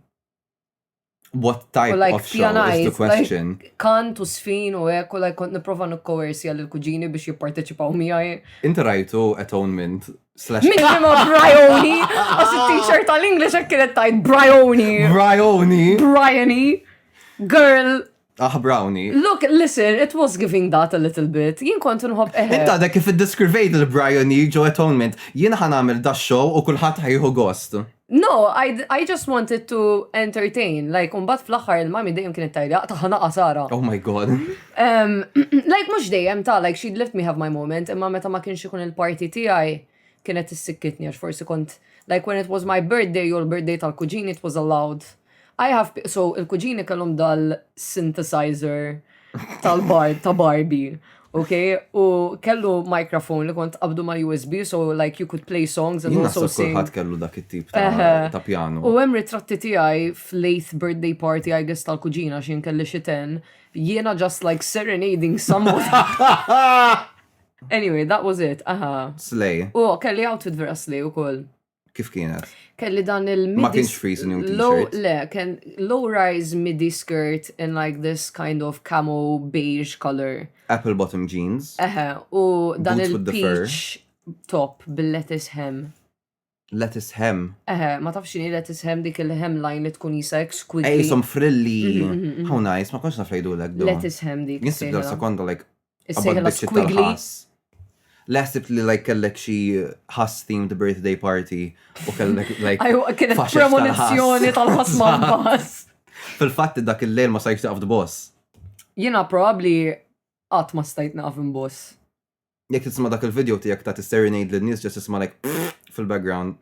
What type like, of show is the question? Like, kant u sfin u hekk u like kont nipprova nikkoersja lil kuġini biex jipparteċipaw miegħi. Inti rajtu atonement slash Min ma Brioni? Għas t-shirt tal-English hekk kienet tajt Brioni. Brioni. Brioni. Girl Aħ Brownie. Look, listen, it was giving that a little bit. Jien kont inħobb eħe. Int għadek kif iddeskrivejt lil Brionie ġo Atonement. Jien ħa nagħmel da show u kulħadd ħa jieħu gost. No, I I just wanted to entertain. Like, u mbagħad fl-aħħar il-mommy dejjem kienet tgħidli aqta' ħa naqa' Sara. Oh my God. Like, mhux dejjem ta, like she'd let me have my moment, imma meta ma kienx ikun il-party tiegħi, kienet issikkitni għax forsi kont like when it was my birthday jew l-birthday tal-kuġini it was allowed. I have pe- so il-kuġini kellhom dal-synthesizer tal-bar ta' Barbie. Okay, u kellu microphone li kont qabdu ma' USB, so like you could play songs and Jien also naħseb sing. kulħadd kellu dak it-tip ta' Eħe. ta' pjanu. U hemm ritratti tiegħi fl-eighth birthday party I guess tal-kuġina x'in kelli xi ten, jiena just like serenading someone. Anyway, that was it, aha. Slay. U kelli outfit vera slay u koll. Kif kienet? Kelli dan il-midi. Ma kienx freeze new t-shirt. Le, kien low rise midi skirt in like this kind of camo beige color. Apple bottom jeans. Eħe, u dan il-peach top bil-lettuce hem. Let is hem. Eħe, ma tafx xini let is hem dik il-hemline li tkun jisa exquisite. Ej, som frilli. Mhm, mhm, mhm. How nice, ma konx naf lejdu l Let is hem dik. Nisib dal sekonda like. Is-sejħla squiggly. Laħsib li like kellek xi ħass themed birthday party u kellek like. Ajwa, kienet premonizzjoni tal-ħass ma' bass. Fil-fatt dak il-lejl ma sajx taqaf boss. Jina probabli għat ma stajt naqaf boss. Jekk tisma' dak il-video tiegħek ta' tisserenade lin-nies ġest isma' like fil-background.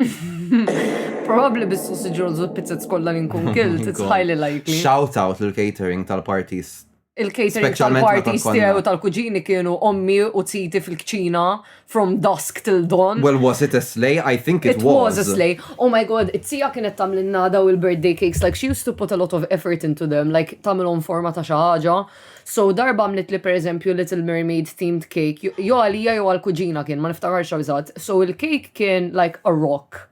Probabbli bis-sausage rolls u l-pizzets kollha li nkun kilt, it's highly likely. Shout out lill-catering tal-parties. Il-catering tal-parties tiegħi u tal-kuġini kienu ommi u titi fil-kċina from dusk till dawn. Well, was it a slay? I think it was. It was a slay. Oh my god, it-tija kienet tamlinna daw il-birthday cakes, like she used to put a lot of effort into them, like tamilhom forma ta' xi ħaġa. So darba għamlitli pereżempju Little Mermaid themed cake, jew għalija jew għall-kuġina kien, ma niftakarx eżatt. So il-cake kien like a rock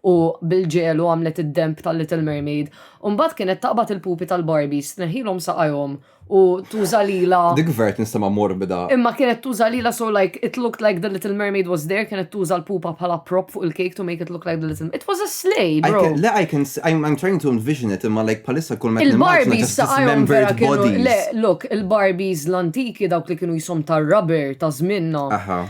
u bil-ġelu għamlet id-denb tal-Little Mermaid. U mbagħad kienet taqbad il-pupi tal-Barbies, tneħħilhom saqajhom u tuża lilha. Dik ver tinstema' morbida. Imma kienet tuża lilha so like it looked like the Little Mermaid was there, kienet tuża l-pupa bħala prop fuq il-cake to make it look like the Little, it was a. Slay, bro. Can, le, I can, I'm, I'm trying to envision it, imma like palissa kull meta Il-Barbies ta' Iron Vera kienu, le, look, il-Barbies l-antiki dawk li kienu jisom ta' rubber ta' zminna,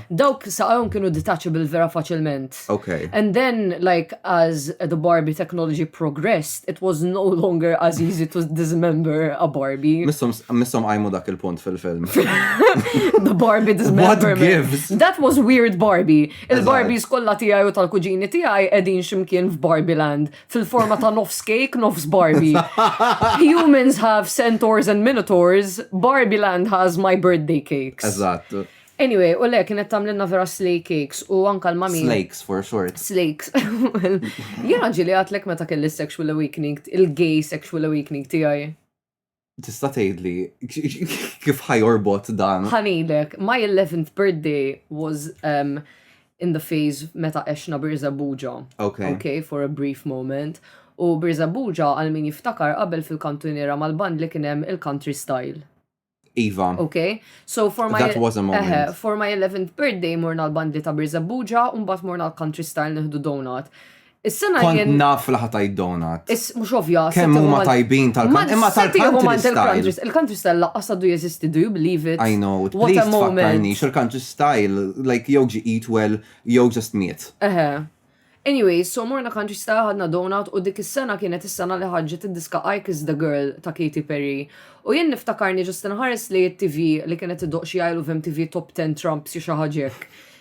dawk saqajhom kienu detachable vera faċilment. Okay. And then, like, as the Barbie technology progressed, it was no longer as easy to dismember a Barbie. Missom għajmu dak il-punt fil-film. the Barbie dismemberment. What gives? That was weird Barbie. Il-Barbies kollha tiegħi u tal-kuġini tiegħi qegħdin ximkien f'Barbie Land, fil-forma ta' nofs cake, nofs Barbie. Humans have centaurs and minotaurs, Barbie Land has my birthday cakes. Eżatt. Anyway, u le, kienet tamlinna vera slay cakes u anka l-mami. Slakes for short. Slakes. Jena ġili għatlek meta kelli sexual awakening, il-gay sexual awakening tijaj. Tista' tgħidli kif ħajorbot dan? Ħanilek, my 11th birthday was um, in the phase meta għexna Birza Buġa. Okay. Okay, for a brief moment. U Birza Buġa għal min jiftakar qabel fil-kantunera mal-band li kien hemm il-country style. Iva. Okay. So for my That was a moment. Uh, for my 11th birthday morna l-bandi ta' Birza Buġa u mbagħad morna l-country style nieħdu donut. Is-sena Kont jien. naf li ħatajt donut. Is mhux ovvja. Kemm huma tajbin tal-country. Imma tal-country style. Il-country style laqqas għadu jeżisti, do you believe it? I know, please tfakkarnix, il-country style, like jew ġi eat well, jew just miet. Eħe. Anyway, so morna country style ħadna donut u dik is-sena kienet is-sena li ħarġet id-diska I Kiss the Girl ta' Katy Perry. U jien niftakarni ġust inħares li t-TV li kienet idoq xi għajlu vem TV Top 10 Trumps xi ħaġa hekk.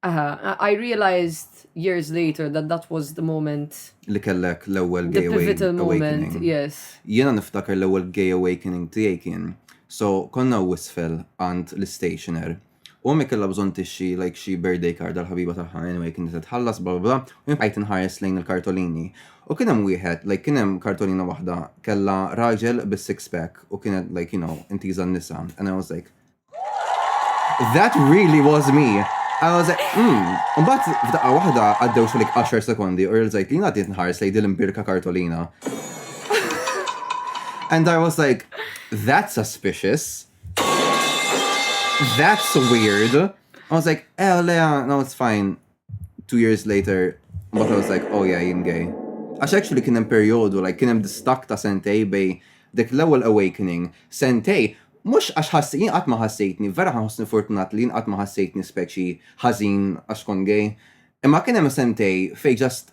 Aha, I realized years later that that was the moment. Li kellek l-ewwel gay awakening. Yes. Jiena niftakar l-ewwel gay awakening tiegħi kien. So konna wisfel għand l-stationer. U mi kella bżon tixxi like xi birthday card għal ħabiba tagħha anyway kien se tħallas bla bla u jien inħares lejn il-kartolini. U kien hemm wieħed like kien hemm kartolina waħda kella raġel bis-six pack u kienet like you know intiża n-nisa and I was like That really was me. I was like, hmm. Umbat, f'daqqa wahda, għaddew xalik 10 sekondi u rżajt li għaddiet nħars li dil imbirka kartolina. And I was like, that's suspicious. That's weird. I was like, eh, Lea, no, it's fine. two years later, but I was like, oh yeah, jien gay. Għax actually kien hemm perjodu, like kien hemm distak ta' sentej bej dik l-ewwel awakening, sentej, mhux għax ħassi, jien qatt ma ħassejtni, vera ħassni fortunat li jien qatt ma ħassejtni speċi ħażin għax kont gay. Imma kien hemm sentej fej just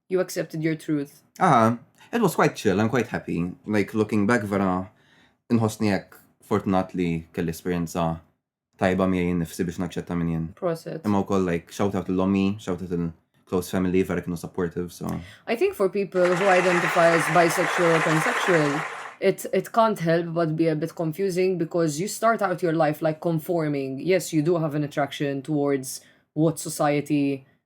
You accepted your truth. Aha, it was quite chill, I'm quite happy. Like, looking back vera, nħosni jekk fortunat li kelli esperienza tajba miegħi nifsi biex naċċetta minn jien. Proset. Imma wkoll like shout out l-ommi, shout out il-close family vera kienu supportive, so. I think for people who identify as bisexual or pansexual, it, it can't help but be a bit confusing because you start out your life like conforming. Yes, you do have an attraction towards what society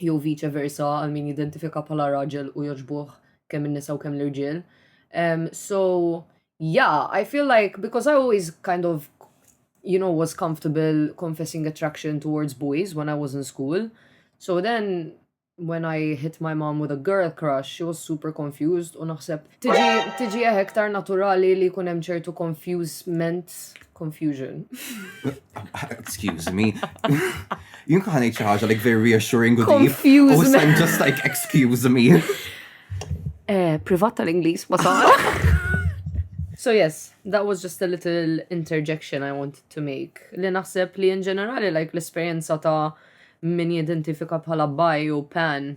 jew viċe versa għal min jidentifika bħala raġel u joġbuħ kemm in-nisa u kemm l-irġiel. Um, so, yeah, I feel like, because I always kind of, you know, was comfortable confessing attraction towards boys when I was in school. So then when I hit my mom with a girl crush, she was super confused u naħseb Tiġi, tiġi eh, iktar naturali li jkun hemm ċertu confusement, confusion. Excuse me. Jien kħan ngħid xi ħaġa like very reassuring u deep. U Confusement. I'm just like excuse me. Eh, privat tal-Ingliż ma sar. So yes, that was just a little interjection I wanted to make. Li naħseb li in ġenerali like l-esperjenza ta' min jidentifika bħala bi u pan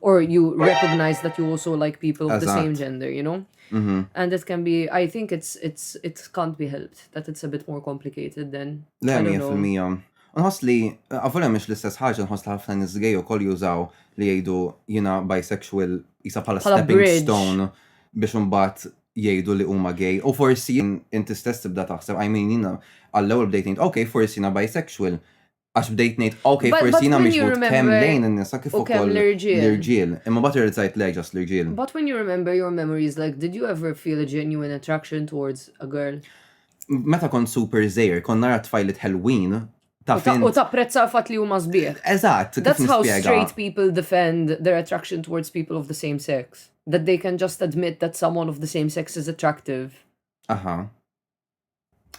or you recognize that you also like people of the same gender, you know? Mm -hmm. And it can be, I think it's, it's, it can't be helped, that it's a bit more complicated than. Le, mija fil-mija. Nħos li, għafunem mux l-istess ħagġa, nħos li ħafna nizgej u koll jużaw li jgħidu jina bisexual jisa pala stepping stone biex unbat jgħidu li huma gay u forsi inti stess tibda taħseb I mean jina għall-ewwel bdejt ngħid ok forsi jina bisexual Għax bdejt ngħid, ok, forsi jina mhix but kemm lejn in-nisa kif ukoll l-irġiel. Imma bat irrizzajt lejk ġas l-irġiel. But when you remember your memories, like did you ever feel a genuine attraction towards a girl? Meta kont super żgħir, kont nara tfajlit ħelwin U tapprezza l-fat li huma sbieħ. Eżatt. That's how straight people defend their attraction towards people of the same sex. That they can just admit that someone of the same sex is attractive. Aha.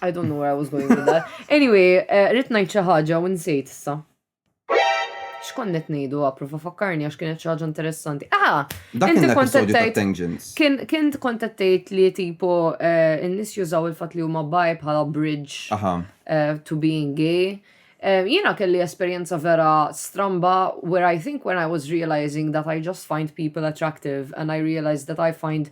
I don't know where I was going with that. Anyway, eh, rrit najt xi ħaġa u nsejt issa. X'konnet ngħidu approva fakkarni għax kienet xi ħaġa interessanti. Ah! Dak kien l-episodju ta' Tangents. Kien kien kontattejt li tipo eh, n-nies jużaw il-fatt li huma baj bħala bridge Aha. Eh, to being gay. Eh, Jiena kelli esperjenza vera stramba where I think when I was realizing that I just find people attractive and I realized that I find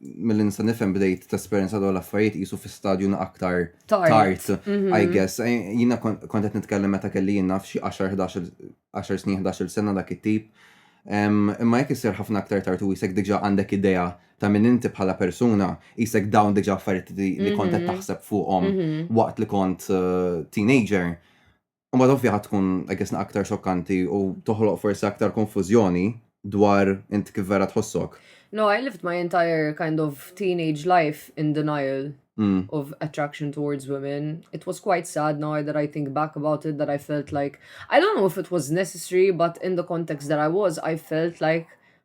mill nista' nifhem bdejt tesperjenza dawn l-affarijiet qisu fi stadju na aktar tard, mhm. I guess. Eh, jiena kont qed nitkellem meta kelli jien naf xi 10 snin 11 sena dak it-tip. Imma jekk isir ħafna aktar tard u jisek diġà għandek idea ta' minn inti bħala persuna, jisek dawn diġà affarijiet li kont qed mhm. taħseb fuqhom mhm. waqt li kont eh, teenager. U ma ovvja ħad tkun għagħesna aktar xokkanti u toħloq forsi aktar konfuzjoni dwar int kif vera tħossok. No, I lived my entire kind of teenage life in denial mm. of attraction towards women. It was quite sad now that I think back about it that I felt like, I don't know if it was necessary, but in the context that I was, I felt like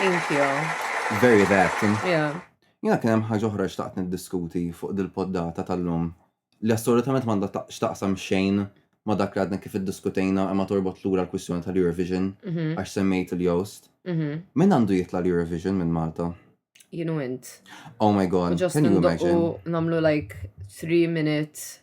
Thank you. Very that. Yeah. Jina kien hemm ħaġa oħra xtaqt niddiskuti fuq dil-poddata tal-lum li assolutament m'għandha xtaqsam xejn ma dak li għadna kif iddiskutejna imma torbot lura l-kwistjoni tal-Eurovision mhm. għax semmejt il-Jost. Mhm. Min għandu jitla l-Eurovision minn Malta? Jien u int. Oh my god, can you imagine? Namlu like 3 minutes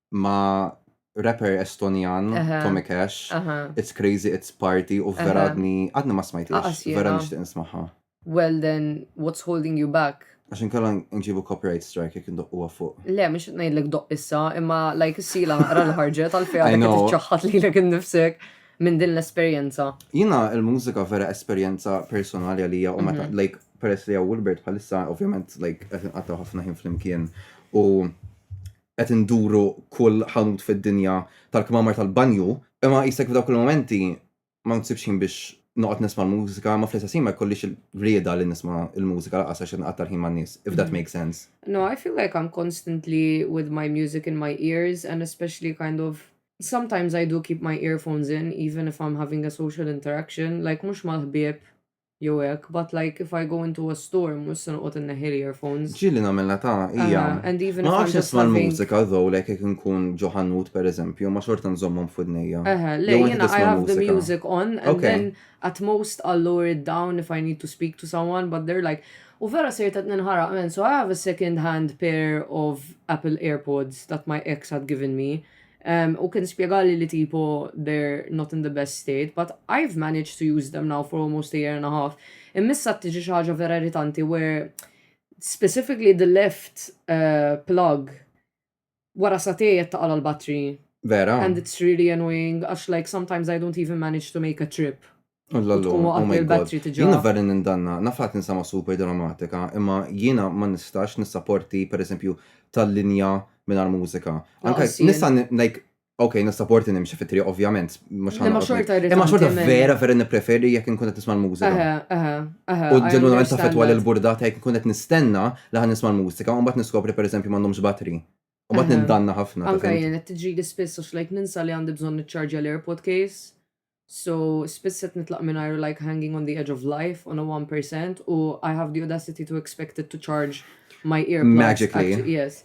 ma' rapper Estonjan, Tommy Cash, It's Crazy, It's Party, u vera għadni, għadni ma smajt vera nishtiq nismaħa. Well then, what's holding you back? Għax inkella nġibu copyright strike jek ndoqqu fuq. Le, mux najdlek doq issa, imma like s-sila naqra l-ħarġet għal-fija li t-ċaħħat li l-ek nifsek minn din l-esperienza. Jina il-mużika vera esperienza personali għalija u meta, mhm. like, peress li għaw Wilbert bħalissa, ovvjament, like, għatta ħafna ħin fl-imkien u qed induru kull ħanut fid-dinja tal-kmamar tal-banju, imma qisek f'dawk il-mumenti ma nsibx ħin biex noqgħod nisma' l-mużika, imma fl-istess ħin ma jkollix il-rieda li nisma' l-mużika lanqas għax qed nqatta' l-ħin man-nies, if that makes sense. No, I feel like I'm constantly with my music in my ears and especially kind of sometimes I do keep my earphones in even if I'm having a social interaction, like mhux mal-ħbieb Jew hekk, but like if I go into a store mhux se noqgħod inneħħi l-earphones. Ġieli nagħmilha ta' hija. Ah, and even if Ma I'm nafx just nisma' having- l-mużika though like jekk inkun ġo ħanut pereżempju, ma xorta nżommhom f'widnejja. Eħe, le, Jew inti jiena I tisma' have the l-mużika? music on and Ok. then at most I'll lower it down if I need to speak to someone but they're like U vera sirt qed ninħaraq man so I have a second hand pair of Apple Airpods that my ex had given me Um, u kien spiegali li tipo they're not in the best state, but I've managed to use them now for almost a year and a half. Immissa tiġi xaġa vera irritanti where specifically the left uh, plug wara satej ta' għal battery Vera. And it's really annoying għax like sometimes I don't even manage to make a trip Tkun oh il-battery tiġa. Jina vera nindanna, nafat ninsama super dramatika, imma jina ma nistax nissaporti per eżempju tal-linja minn mużika. Anka nista' like Ok, nissaporti nimxi fitri, ovvjament. Imma xorta Imma xorta vera, vera nipreferi jek nkun qed nisma' l-mużika. U ġenwinament taffetwa l-burdata jek nkun qed nistenna li ħan nisma' l-mużika, u mbagħad niskopri per eżempju m'għandhomx battery. U mbagħad nindanna ħafna. Anka jien qed tiġri l-ispiss għax like ninsa li għandi bżonn niċċarġja l-AirPod case. So, spiss qed nitlaq mingħajru like hanging on the edge of life on a one percent u I have the audacity to expect it to charge my earplugs. Magically. At, yes.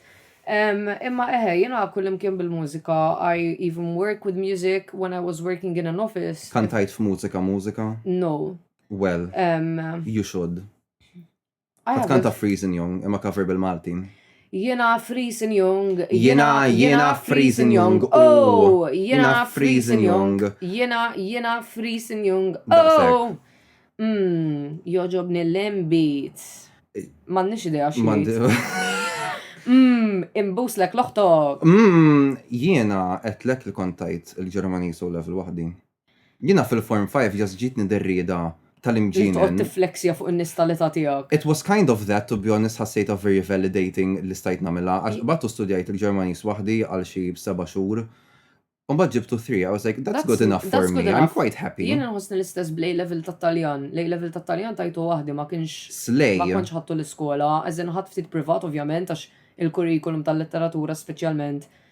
Um, imma eħe, jena kullimkien bil-mużika, I even work with music when I was working in an office. Kantajt f'mużika mużika? No. Well, um, you should. Għad kanta Freezing Young, imma cover bil-Malti. Jena Freezing Young. Jena, jena Freezing Young. Oh, jena Freezing Young. Jena, jena Freezing Young. Oh. Mm, joġobni l-imbit. Mannix idea xmand. Mm, imbuslek loħtok. Mm, jena etlek li kontajt il-Ġermanis u level wahdi. Jiena fil-Form Five just ġietni dir-rieda tal-imġienen. Li toqgħod tiffleksja fuq in-nies tal-età tiegħek. It was kind of that, to be honest ħassejtha very validating li stajt nagħmilha għax qbadt u studjajt il-Ġermaniż waħdi għal xi seba' xhur u mbagħad ġibt two three, I was like that's good enough for me, I'm quite happy. Jien inħossni l-istess bl-A-Level tat-Taljan, l-A-Level tat-Taljan tajtu waħdi ma kienx, ma kontx ħadtu l-iskola, as in ħadt ftit privat ovvjament għax il-curriculum tal-letteratura speċjalment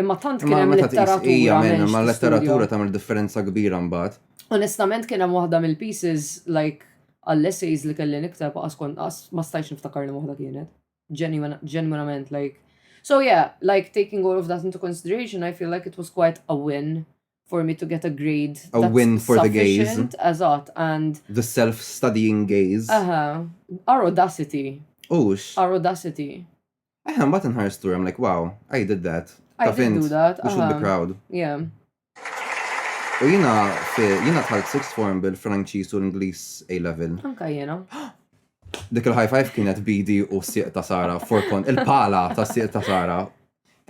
Imma tant kien hemm letteratura. Ija minn ma letteratura tagħmel differenza kbira mbagħad. Onestament kien hemm waħda mill-pieces like għall-essays li kelli nikteb qas kont qas ma stajtx niftakar li waħda kienet. Genuinament like. So yeah, like taking all of that into consideration, I feel like it was quite a win for me to get a grade. A win for the gaze. Eżatt, and. The self-studying gaze. Aha, our audacity. Ux. Our audacity. Eħe, mbagħad inħares tur, I'm like, wow, I did that. I Taf did int, do that, We should be aha. proud. Yeah. U jina, fi- jina tħalt sixth form bil-Franċiż u l-Ingliż A-level. Anka jena. Dik il-high five kienet bidi u s-sieq ta' Sara, forkon, il-pala ta' s-sieq ta' Sara.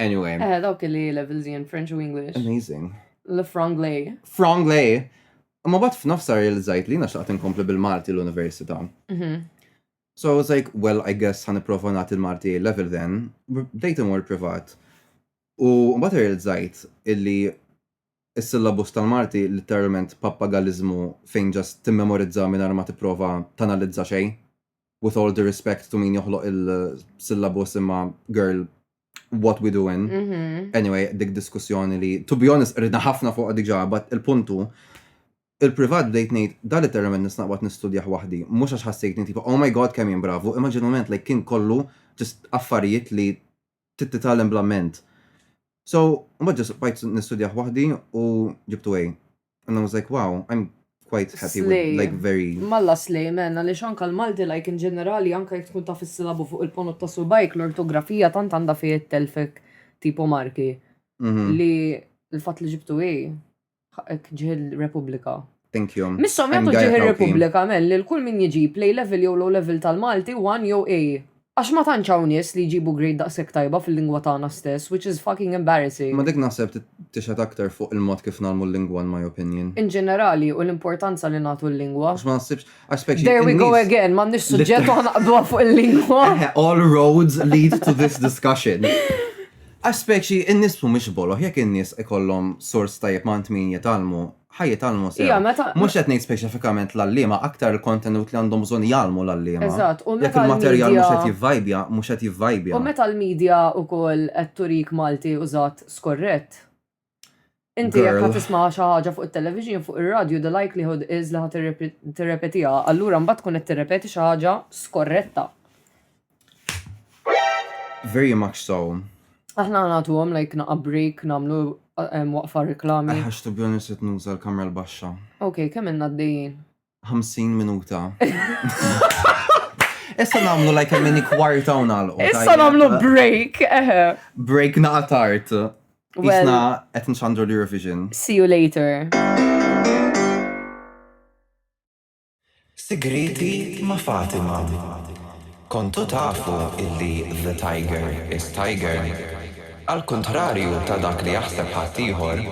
Anyway, Eh, dawk li levels in French u English. amazing. Le franglais. Franglais. Ma bat f'nofsa realizzajt li jina xtaqt inkompli bil-Malti l-Università. Mhm. So I was like, well I guess ħa nipprova nagħti l-Malti A level then. Bdejt imur privat. U mbagħad irrealizzajt illi is-syllabus tal-Malti litteralment pappagaliżmu fejn ġast timmemorizza mingħajr ma tipprova tanalizza xejn. With all due respect to min joħloq il-syllabus imma girl what we doing. Mm -hmm. Anyway, dik diskussjoni li, to be honest, rridna ħafna fuq diġa, but il-puntu, il-privat bdejt ngħid dal termen nisnaqbad nistudjaħ waħdi, mhux għax ħassejtni tipo, oh my god kemm jien bravu, imma ġenument like kien kollu just affarijiet li tittitalem bla ment. So, mbagħad ġest bajt nistudjaħ waħdi u ġibtu għej. And I was like, wow, I'm quite happy with Slay. like very Malla slej men, għaliex anka l-Malti like in ġenerali anka jekk tkun taf is-silabu fuq il-ponot ta' subajk l-ortografija tant għandha fih it-telfek tipo marki Mhm. li l-fatt li ġibtu hi ħaqek ġiħil Repubblika. Thank you. Missom I'm jagħtu Gaia ġiħil Kauki. Repubblika men li l-kull min jiġib lej level jew low level tal-Malti 1 jew A. Għax ma tantx hawn nies li jġibu grade daqshekk tajba fil-lingwa tagħna stess, which is fucking embarrassing. Imma dik naħseb tixhed aktar fuq il-mod kif ngħallmu l-lingwa in my opinion. In ġenerali u l-importanza li nagħtu l-lingwa. Għax ma naħsibx, għax specie in-nies. There we go again, m'għandniex suġġett u ħanaqbduha fuq il-lingwa. Eħe, all roads lead to this discussion. Għax specie in-nies mhumiex boloh, jekk in-nies ikollhom sors tajjeb ma' għand min jitgħallmu, ħajja talmu sew. Ija, meta. Mhux qed ngħid speċifikament l-għalliema, aktar il-kontenut li għandhom bżonn jgħallmu l-għalliema. Eżatt, u meta. Jekk il-materjal mhux qed jivvajbja, mhux qed jivvajbja. U meta l-media wkoll qed turik Malti użat skorrett. Inti jekk ħa tisma' xi ħaġa fuq it-television, fuq ir-radju, the likelihood is li ħa tirrepetiha, allura mbagħad tkun qed tirrepeti xi ħaġa skorretta. Very much so. Aħna nagħtu għom like naqa break namlu um, waqfa reklami. Għax to be honest qed nuża l-kamra l-baxxa. Ok, kemm inna d-dejjin? 50 minuta. Issa namlu like a mini kwarta u nagħlqu. Issa namlu break, eħe. Break naqa tard. Isna qed nxandru l-Eurovision. See you later. Sigrieti ma' Fatima Kontu tafu illi the tiger is tiger? Għal kuntrarju ta' dak li jaħseb ħaddieħor,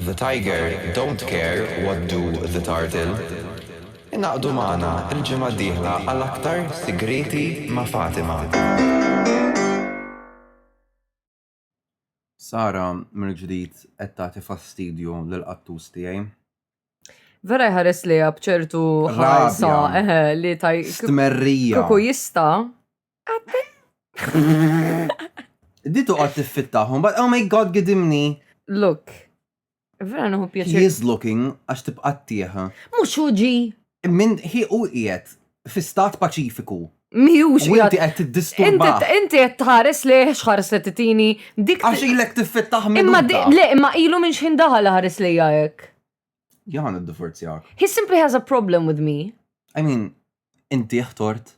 the tiger don't care what do the turtle. Ingħaqdu magħna l-ġimgħa d-dieħla għal aktar Sigrieti ma' Fatima. Sara mill-ġdid qed tagħti fastidju lill-qattus tiegħi. Vera jħares li bċertu ħarsa li taj. Stmerrija. Kuku jista. Ditu għad tiffittaħum, but oh my god, gidimni. Look, Vera nħu pjaċir. He is looking għax tibqa' tieħa. Mhux hu ġi. Min hi u qiegħed fi stat paċifiku. Miħux. U inti qed tiddisturba. Inti qed tħares li xħares li titini dik. Għax ilek tiffittaħ minn. Imma le, imma ilu minn xħin daħal ħares li jgħek. Jaħan id-divorzjak. He simply has a problem with me. I mean, inti ħtort.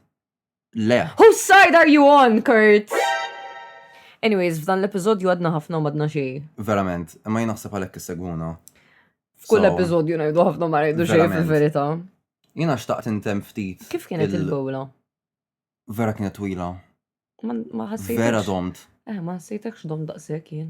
Le. Whose side are you on, Kurt? Anyways, f'dan l-episodju għadna ħafna u madna xej. Verament, imma jien naħseb għalhekk issegwuna. F'kull episodju ngħidu ħafna ma ngħidu xej fil-verità. Jiena xtaqt intem ftit. Kif kienet il-bowla? Vera kienet twila. Ma ħassejt. Vera domt. Eh, ma ħassejtekx domt daqshekk jien.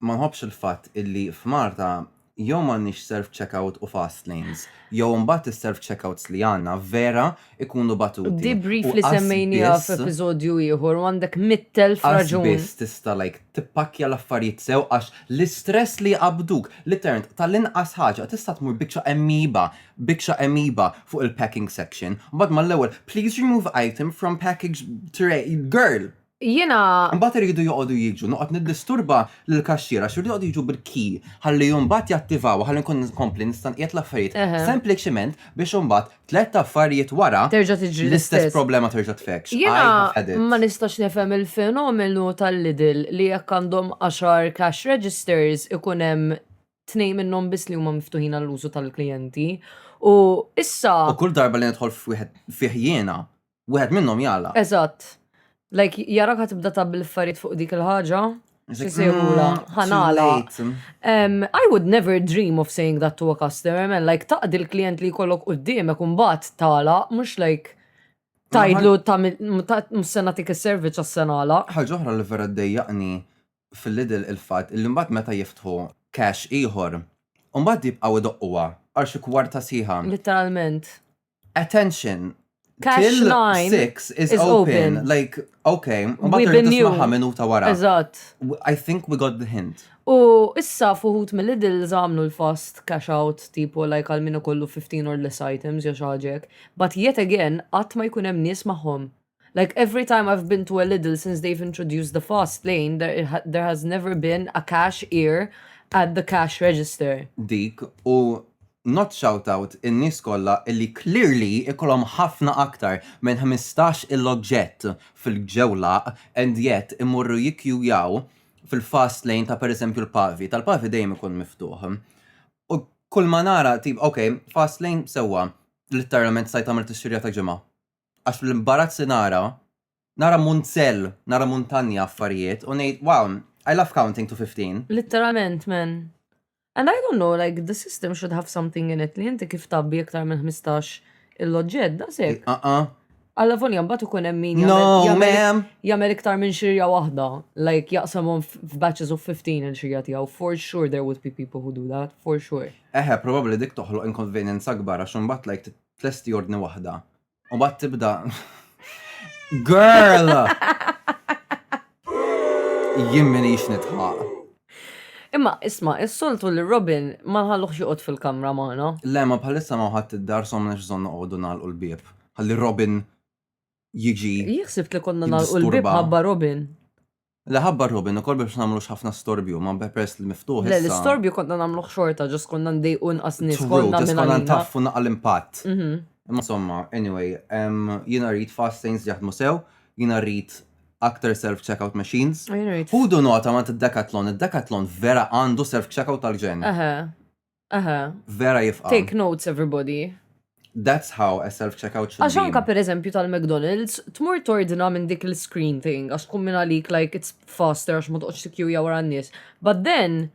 ma nħobbx il-fatt illi f'Malta jew m'għandniex self-checkout u fast lanes, jew imbagħad is-self-checkouts li għandna vera jkunu batuti. Debrief li semmejnieha f'episodju ieħor u għandek mitt elf raġun. Qatt biss tista' like tippakkja l-affarijiet sew għax l-istress li jqabbduk, literalment tal-inqas ħaġa tista' tmur biċċa emmiba, biċċa emmiba fuq il-packing section, mbagħad mal-ewwel please remove item from package tray, girl! Jiena. Imbagħad iridu joqogħdu jiġu, noqgħod niddisturba lill-kaxxiera għax iridu joqogħdu jiġu bil-key ħalli imbagħad jattivaw ħalli nkun nkompli nista' nqiegħed l-affarijiet sempliċiment biex imbagħad tliet affarijiet wara terġa' tiġri l-istess problema terġa' tfekkx. Jiena ma nistax nifhem il-fenomenu tal-Lidl li jekk għandhom għaxar cash registers ikun hemm tnejn minnhom biss li huma miftuħin għall-użu tal-klijenti u issa. U kull darba li nidħol f'wieħed fih jiena wieħed minnhom jala. Eżatt. Like, jara ka tibda ta' bil-farit fuq dik il-ħaġa. Sisirula, mm, ħanala. Um, I would never dream of saying that to a customer, man. Like, taqdi l-klient li kollok u d-dim, ekun bat tala, mux like, tajdlu ta' sena tik il-service għas senala. ħagħuħra li vera d-dejjaqni fil-lidl il-fat, il-limbat meta jiftħu cash iħor, un bat jibqaw id-doqwa, għarxi kwarta siħa. Literalment. Attention! Cash line 6 is, is open. open. Like, okay, we've been new. minuta wara. Eżatt. I think we got the hint. U issa fuħut mill-Lidl zamlu l-fast cash out tipo like għal minu kollu 15 or less items jew xaġek. But yet again, għat ma jkun hemm nies magħhom. Like every time I've been to a Lidl since they've introduced the fast lane, there, there has never been a cash ear at the cash register. Dik, u not shout out in-nies kollha illi clearly ikollhom ħafna aktar minn 15 il-oġġett fil-ġewlaq and yet imorru jikkjujaw fil-fast lane ta' per eżempju l-Pavi, tal-Pavi dejjem ikun miftuħ. U kull ma nara tip, ok, fast lane sewwa, litteralment stajt tagħmel tixxirja ta' ġimgħa. għax l-imbarazz li nara, nara munzell, nara muntanja affarijiet, u ngħid, wow, I love counting to 15. Literalment, man. And I don't know, like, the system should have something in it li inti kif tabbi iktar minn 15 il-loġġed, da sekk. Aqqa. Alla volja mbagħad ikun hemm min No, jagħmel- jagħmel- ma'am. jagħmel iktar minn xirja waħda, like jaqsamhom f- f'batches of 15 il-xirja tiegħu. For sure there would be people who do that, for sure. Eħe, probabli dik toħloq inconvenience akbar, għax imbagħad like tlesti ordni waħda. U bat tibda. Girl! Jien minix nitħaq. Imma isma, is-soltu li Robin ma ħalluħ joqgħod fil-kamra magħna. Le, ma bħalissa ma ħadd id-dar somna x'żon noqogħdu nagħlqu l-bieb. Ħalli Robin jiġi. Jieħsibt li konna nagħlqu l-bieb ħabba Robin. Le ħabbar Robin ukoll biex ma nagħmlux ħafna storbju, ma peress li miftuħ issa. Le l-istorbju konna nagħmluh xorta, ġust konna ndejqu inqas nies konna minn Konna ntaffu naqqa l-impatt. Imma insomma, anyway, jiena rrid fast lanes li jaħdmu sew, jiena rrid aktar self checkout machines. Ħudu nota ma int id-Decathlon, id-Decathlon vera għandu self checkout tal-ġenn. Aha. Vera jifqa. Take notes everybody. That's how a self-checkout should be. Għaxanka per eżempju tal-McDonald's, tmur tordina minn dik l-screen thing, għax tkun minn għalik like it's faster għax ma toqgħodx tikjuja wara n-nies. But then,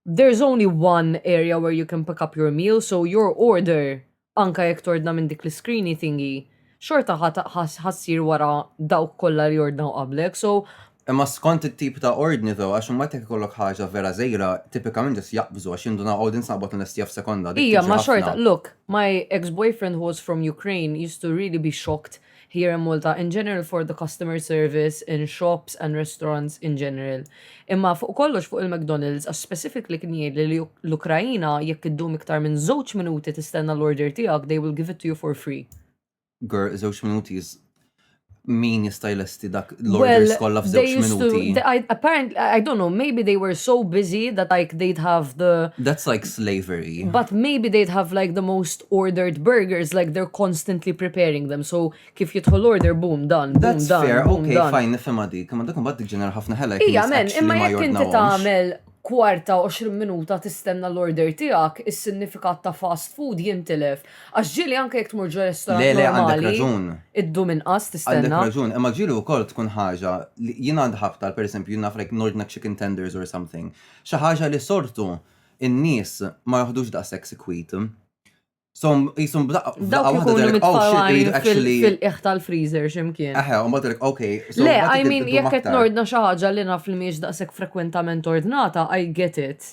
there's only one area where you can pick up your meal, so your order anke jekk tordna minn dik l-iskrini thingy, xorta ħa ta- ħa- ħa ssir wara dawk kollha li ordnaw qablek, so. Imma skont it-tip ta' ordni though, għax imbagħad jekk ikollok ħaġa vera żgħira, tipikament just jaqbżu għax jindunaw oh din se noqgħod inlestiha f'sekonda, dik Ija, tiġi ma xorta, ħafna. look, my ex-boyfriend who was from Ukraine used to really be shocked here in Malta in general for the customer service in shops and restaurants in general. Imma fuq kollox fuq il-McDonald's għax specifically kien jgħidli li l-Ukraina jekk iddum iktar minn żewġ minuti tistenna l-order tiegħek they will give it to you for free. Girl, żewġ minuti is min jista' jlesti dak l-orders kollha f'żewġ minuti. Apparently, I don't know, maybe they were so busy that like they'd have the That's like slavery. But maybe they'd have like the most ordered burgers, like they're constantly preparing them. So kif jidħol order, boom, dan, boom, dan. That's fair, okay, fine, nifhimha dik. Ma dak imbagħad tiġġenera ħafna ħela. Ija, men, imma jekk inti tagħmel kwarta, 20 minuta tistenna l-order tiegħek, is-sinifikat ta' fast food jintilef. Għax ġieli anke jekk tmur ġo restorant normali. Le, le, għandek raġun. Iddum inqas tistenna. Għandek raġun, imma ġieli wkoll tkun ħaġa li jien għandi ħafna, per eżempju, jien naf like nordna chicken tenders or something. Xi ħaġa li sortu n-nies ma joħdux daqshekk sikwit. So, jisum b'daqqa Dawk waħda ikunu direk, oh shit, mitfawajn iridu fil- actually. fil-qiegħ tal-freezer x'imkien. Eħe, u mbagħad direk, okay. so Le, mbagħad I id- mean, iddum jekk qed aktar. nordna xi ħaġa li naf li mhijiex daqshekk frekwentament ordnata, I get it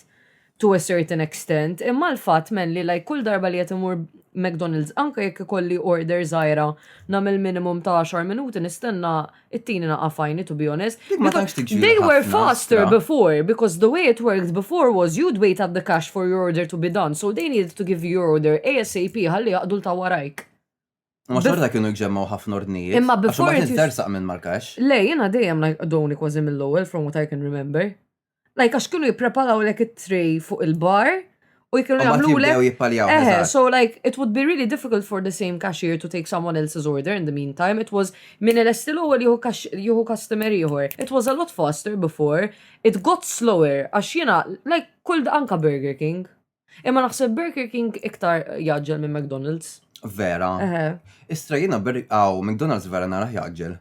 to a certain extent, imma l-fatt men li like kull darba li qed imur McDonald's anke jekk ikolli order żgħira nagħmel minimum ta' 10 minuti nistenna It-tini naqa fajni, to be honest. They were faster before, because the way it worked before was you'd wait at the cash for your order to be done, so they needed to give your order ASAP ħalli jaqdu l-ta' warajk. Ma xorta kienu jġemmaw ħafna ordnijiet. Imma before. Ma tersaq minn mal-kax. Le, jena dejjem like doni kważi mill-ewwel from what I can remember. Like, għax kienu jippreparaw lek it-tray fuq il-bar u jkienu jagħmlu lek. jippaljaw. Eh, eżatt. so like, it would be really difficult for the same cashier to take someone else's order in the meantime. It was, minn il-esti l-ewwel jieħu cash- jieħu customer ieħor. It was a lot faster before. It got slower, għax jiena, like, kull da- anka Burger King. Imma naħseb Burger King iktar jaġġel minn McDonald's. Vera. Eh, Istra jiena ber- aw, McDonald's vera naraħ jaġġel.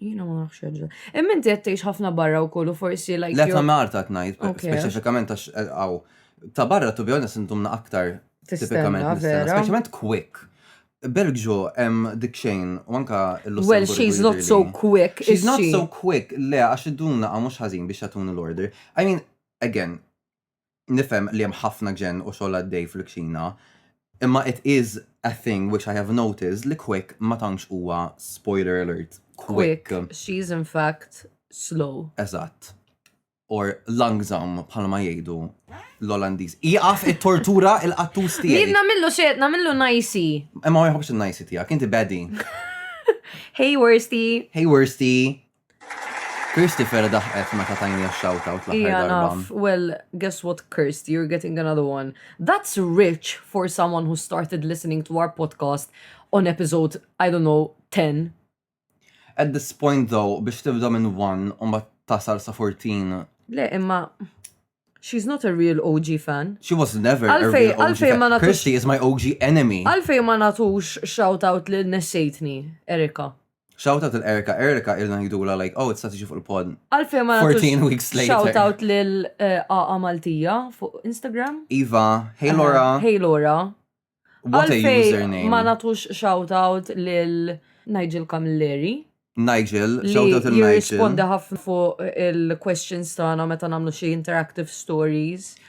Jina ma nafx ġa. Imma inti qed tgħix ħafna barra wkoll u forsi like. Le ta' Marta qed ngħid, speċifikament għax għaw. Eh, ta' barra tu bjonna sintumna aktar tipikament nistenna, speċjalment quick. Belġu hemm dik xejn u anka l-Lussemburgu. Well, she's not so quick. She's not so quick, le għax id-duna għamux ħażin biex jatun l-order. I mean, again, Nifhem li hemm ħafna ġenn u xogħol għaddej fil-kċina, imma it is a thing which I have noticed li Quick ma tantx huwa, spoiler alert, quick. Quick, she is in fact slow. Eżatt. Or langżam bħalma jgħidu l-Olandiż. Ieqaf it-tortura il-qattus tiegħi. Jien nagħmillu xejn, nagħmillu najsi. Imma ma jħobbx in-najsi tiegħek, inti bedi. Hey Worsty. Hey Worsty. Kirsty vera daħqet meta tajni x-shout out l-aħħar Ija darba. naf, well, guess what Kirsty, you're getting another one. That's rich for someone who started listening to our podcast on episode, I don't know, 10. At this point though, biex tibda minn 1 u ma tasal sa 14, Le, imma, she's not a real OG fan. she was never a Għalfej- real OG għalfej fan. ma natux- Kirsty is my OG enemy. Għalfej ma natux shout out li nessejtni, Erika. Shout out il Erika, Erika ilna ngħidulha like oh tista' tiġi fuq il-pod. Għalfejn ma nagħtux 14 weeks later. Shout out lil eh, Aqa Maltija fuq Instagram. Iva, hey Laura. Hey Laura. What a Għalfejn username. ma nagħtux shout out lil Nigel Camilleri. Nigel, li shout out il-Nigel. jirrispondi ħafna fuq il-questions tagħna meta nagħmlu xi interactive stories.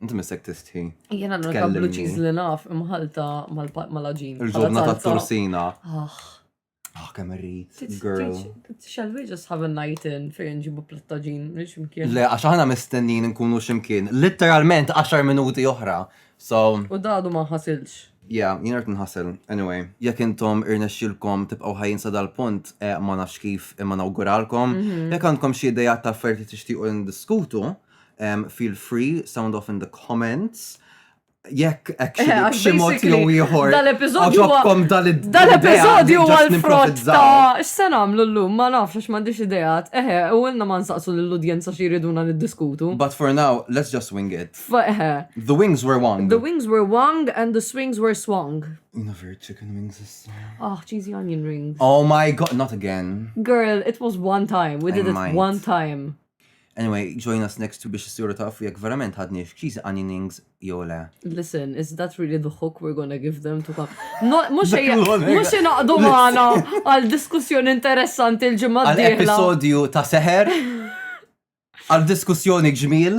Inti missek tistħi. Jena l-unika blue Tkellimni. cheese li naf imħalta mal-laġin. Il-ġobna ta' torsina. Ah, Ah, kemm irrid, girl. Shall we just have a night in fejn ġibu plattaġin minn ximkien? Le, għax aħna mistennin nkunu ximkien. Literalment 10 minuti oħra. So, U dadu ma ħasilx. yeah, jien rrit nħassel. Anyway, jekk intom irnexxilkom tibqgħu ħajjin sa dal-punt, eh, ma nafx kif imma nawguralkom. Jekk għandkom xi idejat ta' affarijiet li tixtiequ ndiskutu, um, feel free, sound off in the comments. Jekk actually b'xi mod jew ieħor. Dal-episodju ġobkom dal-episodju huwa l-frott ta' x'se nagħmlu llum ma nafx għax m'għandix ideat. Eħe, u ilna ma nsaqsu lill-udjenza xi jriduna niddiskutu. But for now, let's just wing it. Eħe. The wings were wung. The wings were wung and the swings were swung. Never chicken wings is Ah, oh, cheesy onion rings. Oh my god, not again. Girl, it was one time. We did it one time. Anyway, join us next week biex issiru tafu jekk verament ħadni f'ċiżi għaninings jew le. Listen, is that really the hook we're gonna give them to come? Mux naqdu maħna għal diskussjoni interessanti l-ġimma d-dihla. Episodju ta' seħer, għal diskussjoni ġmil.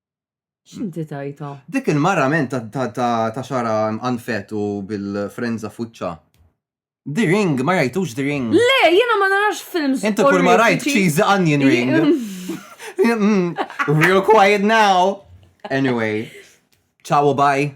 X'inti tajta? Dik il-mara men ta' xara anfet u bil-frenza fuċċa. The Ring, ma rajtux The Ring. Le, jiena ma narax films. Inti kull ma rajt cheesy onion ring. Mm, real quiet now. Anyway, ciao bye.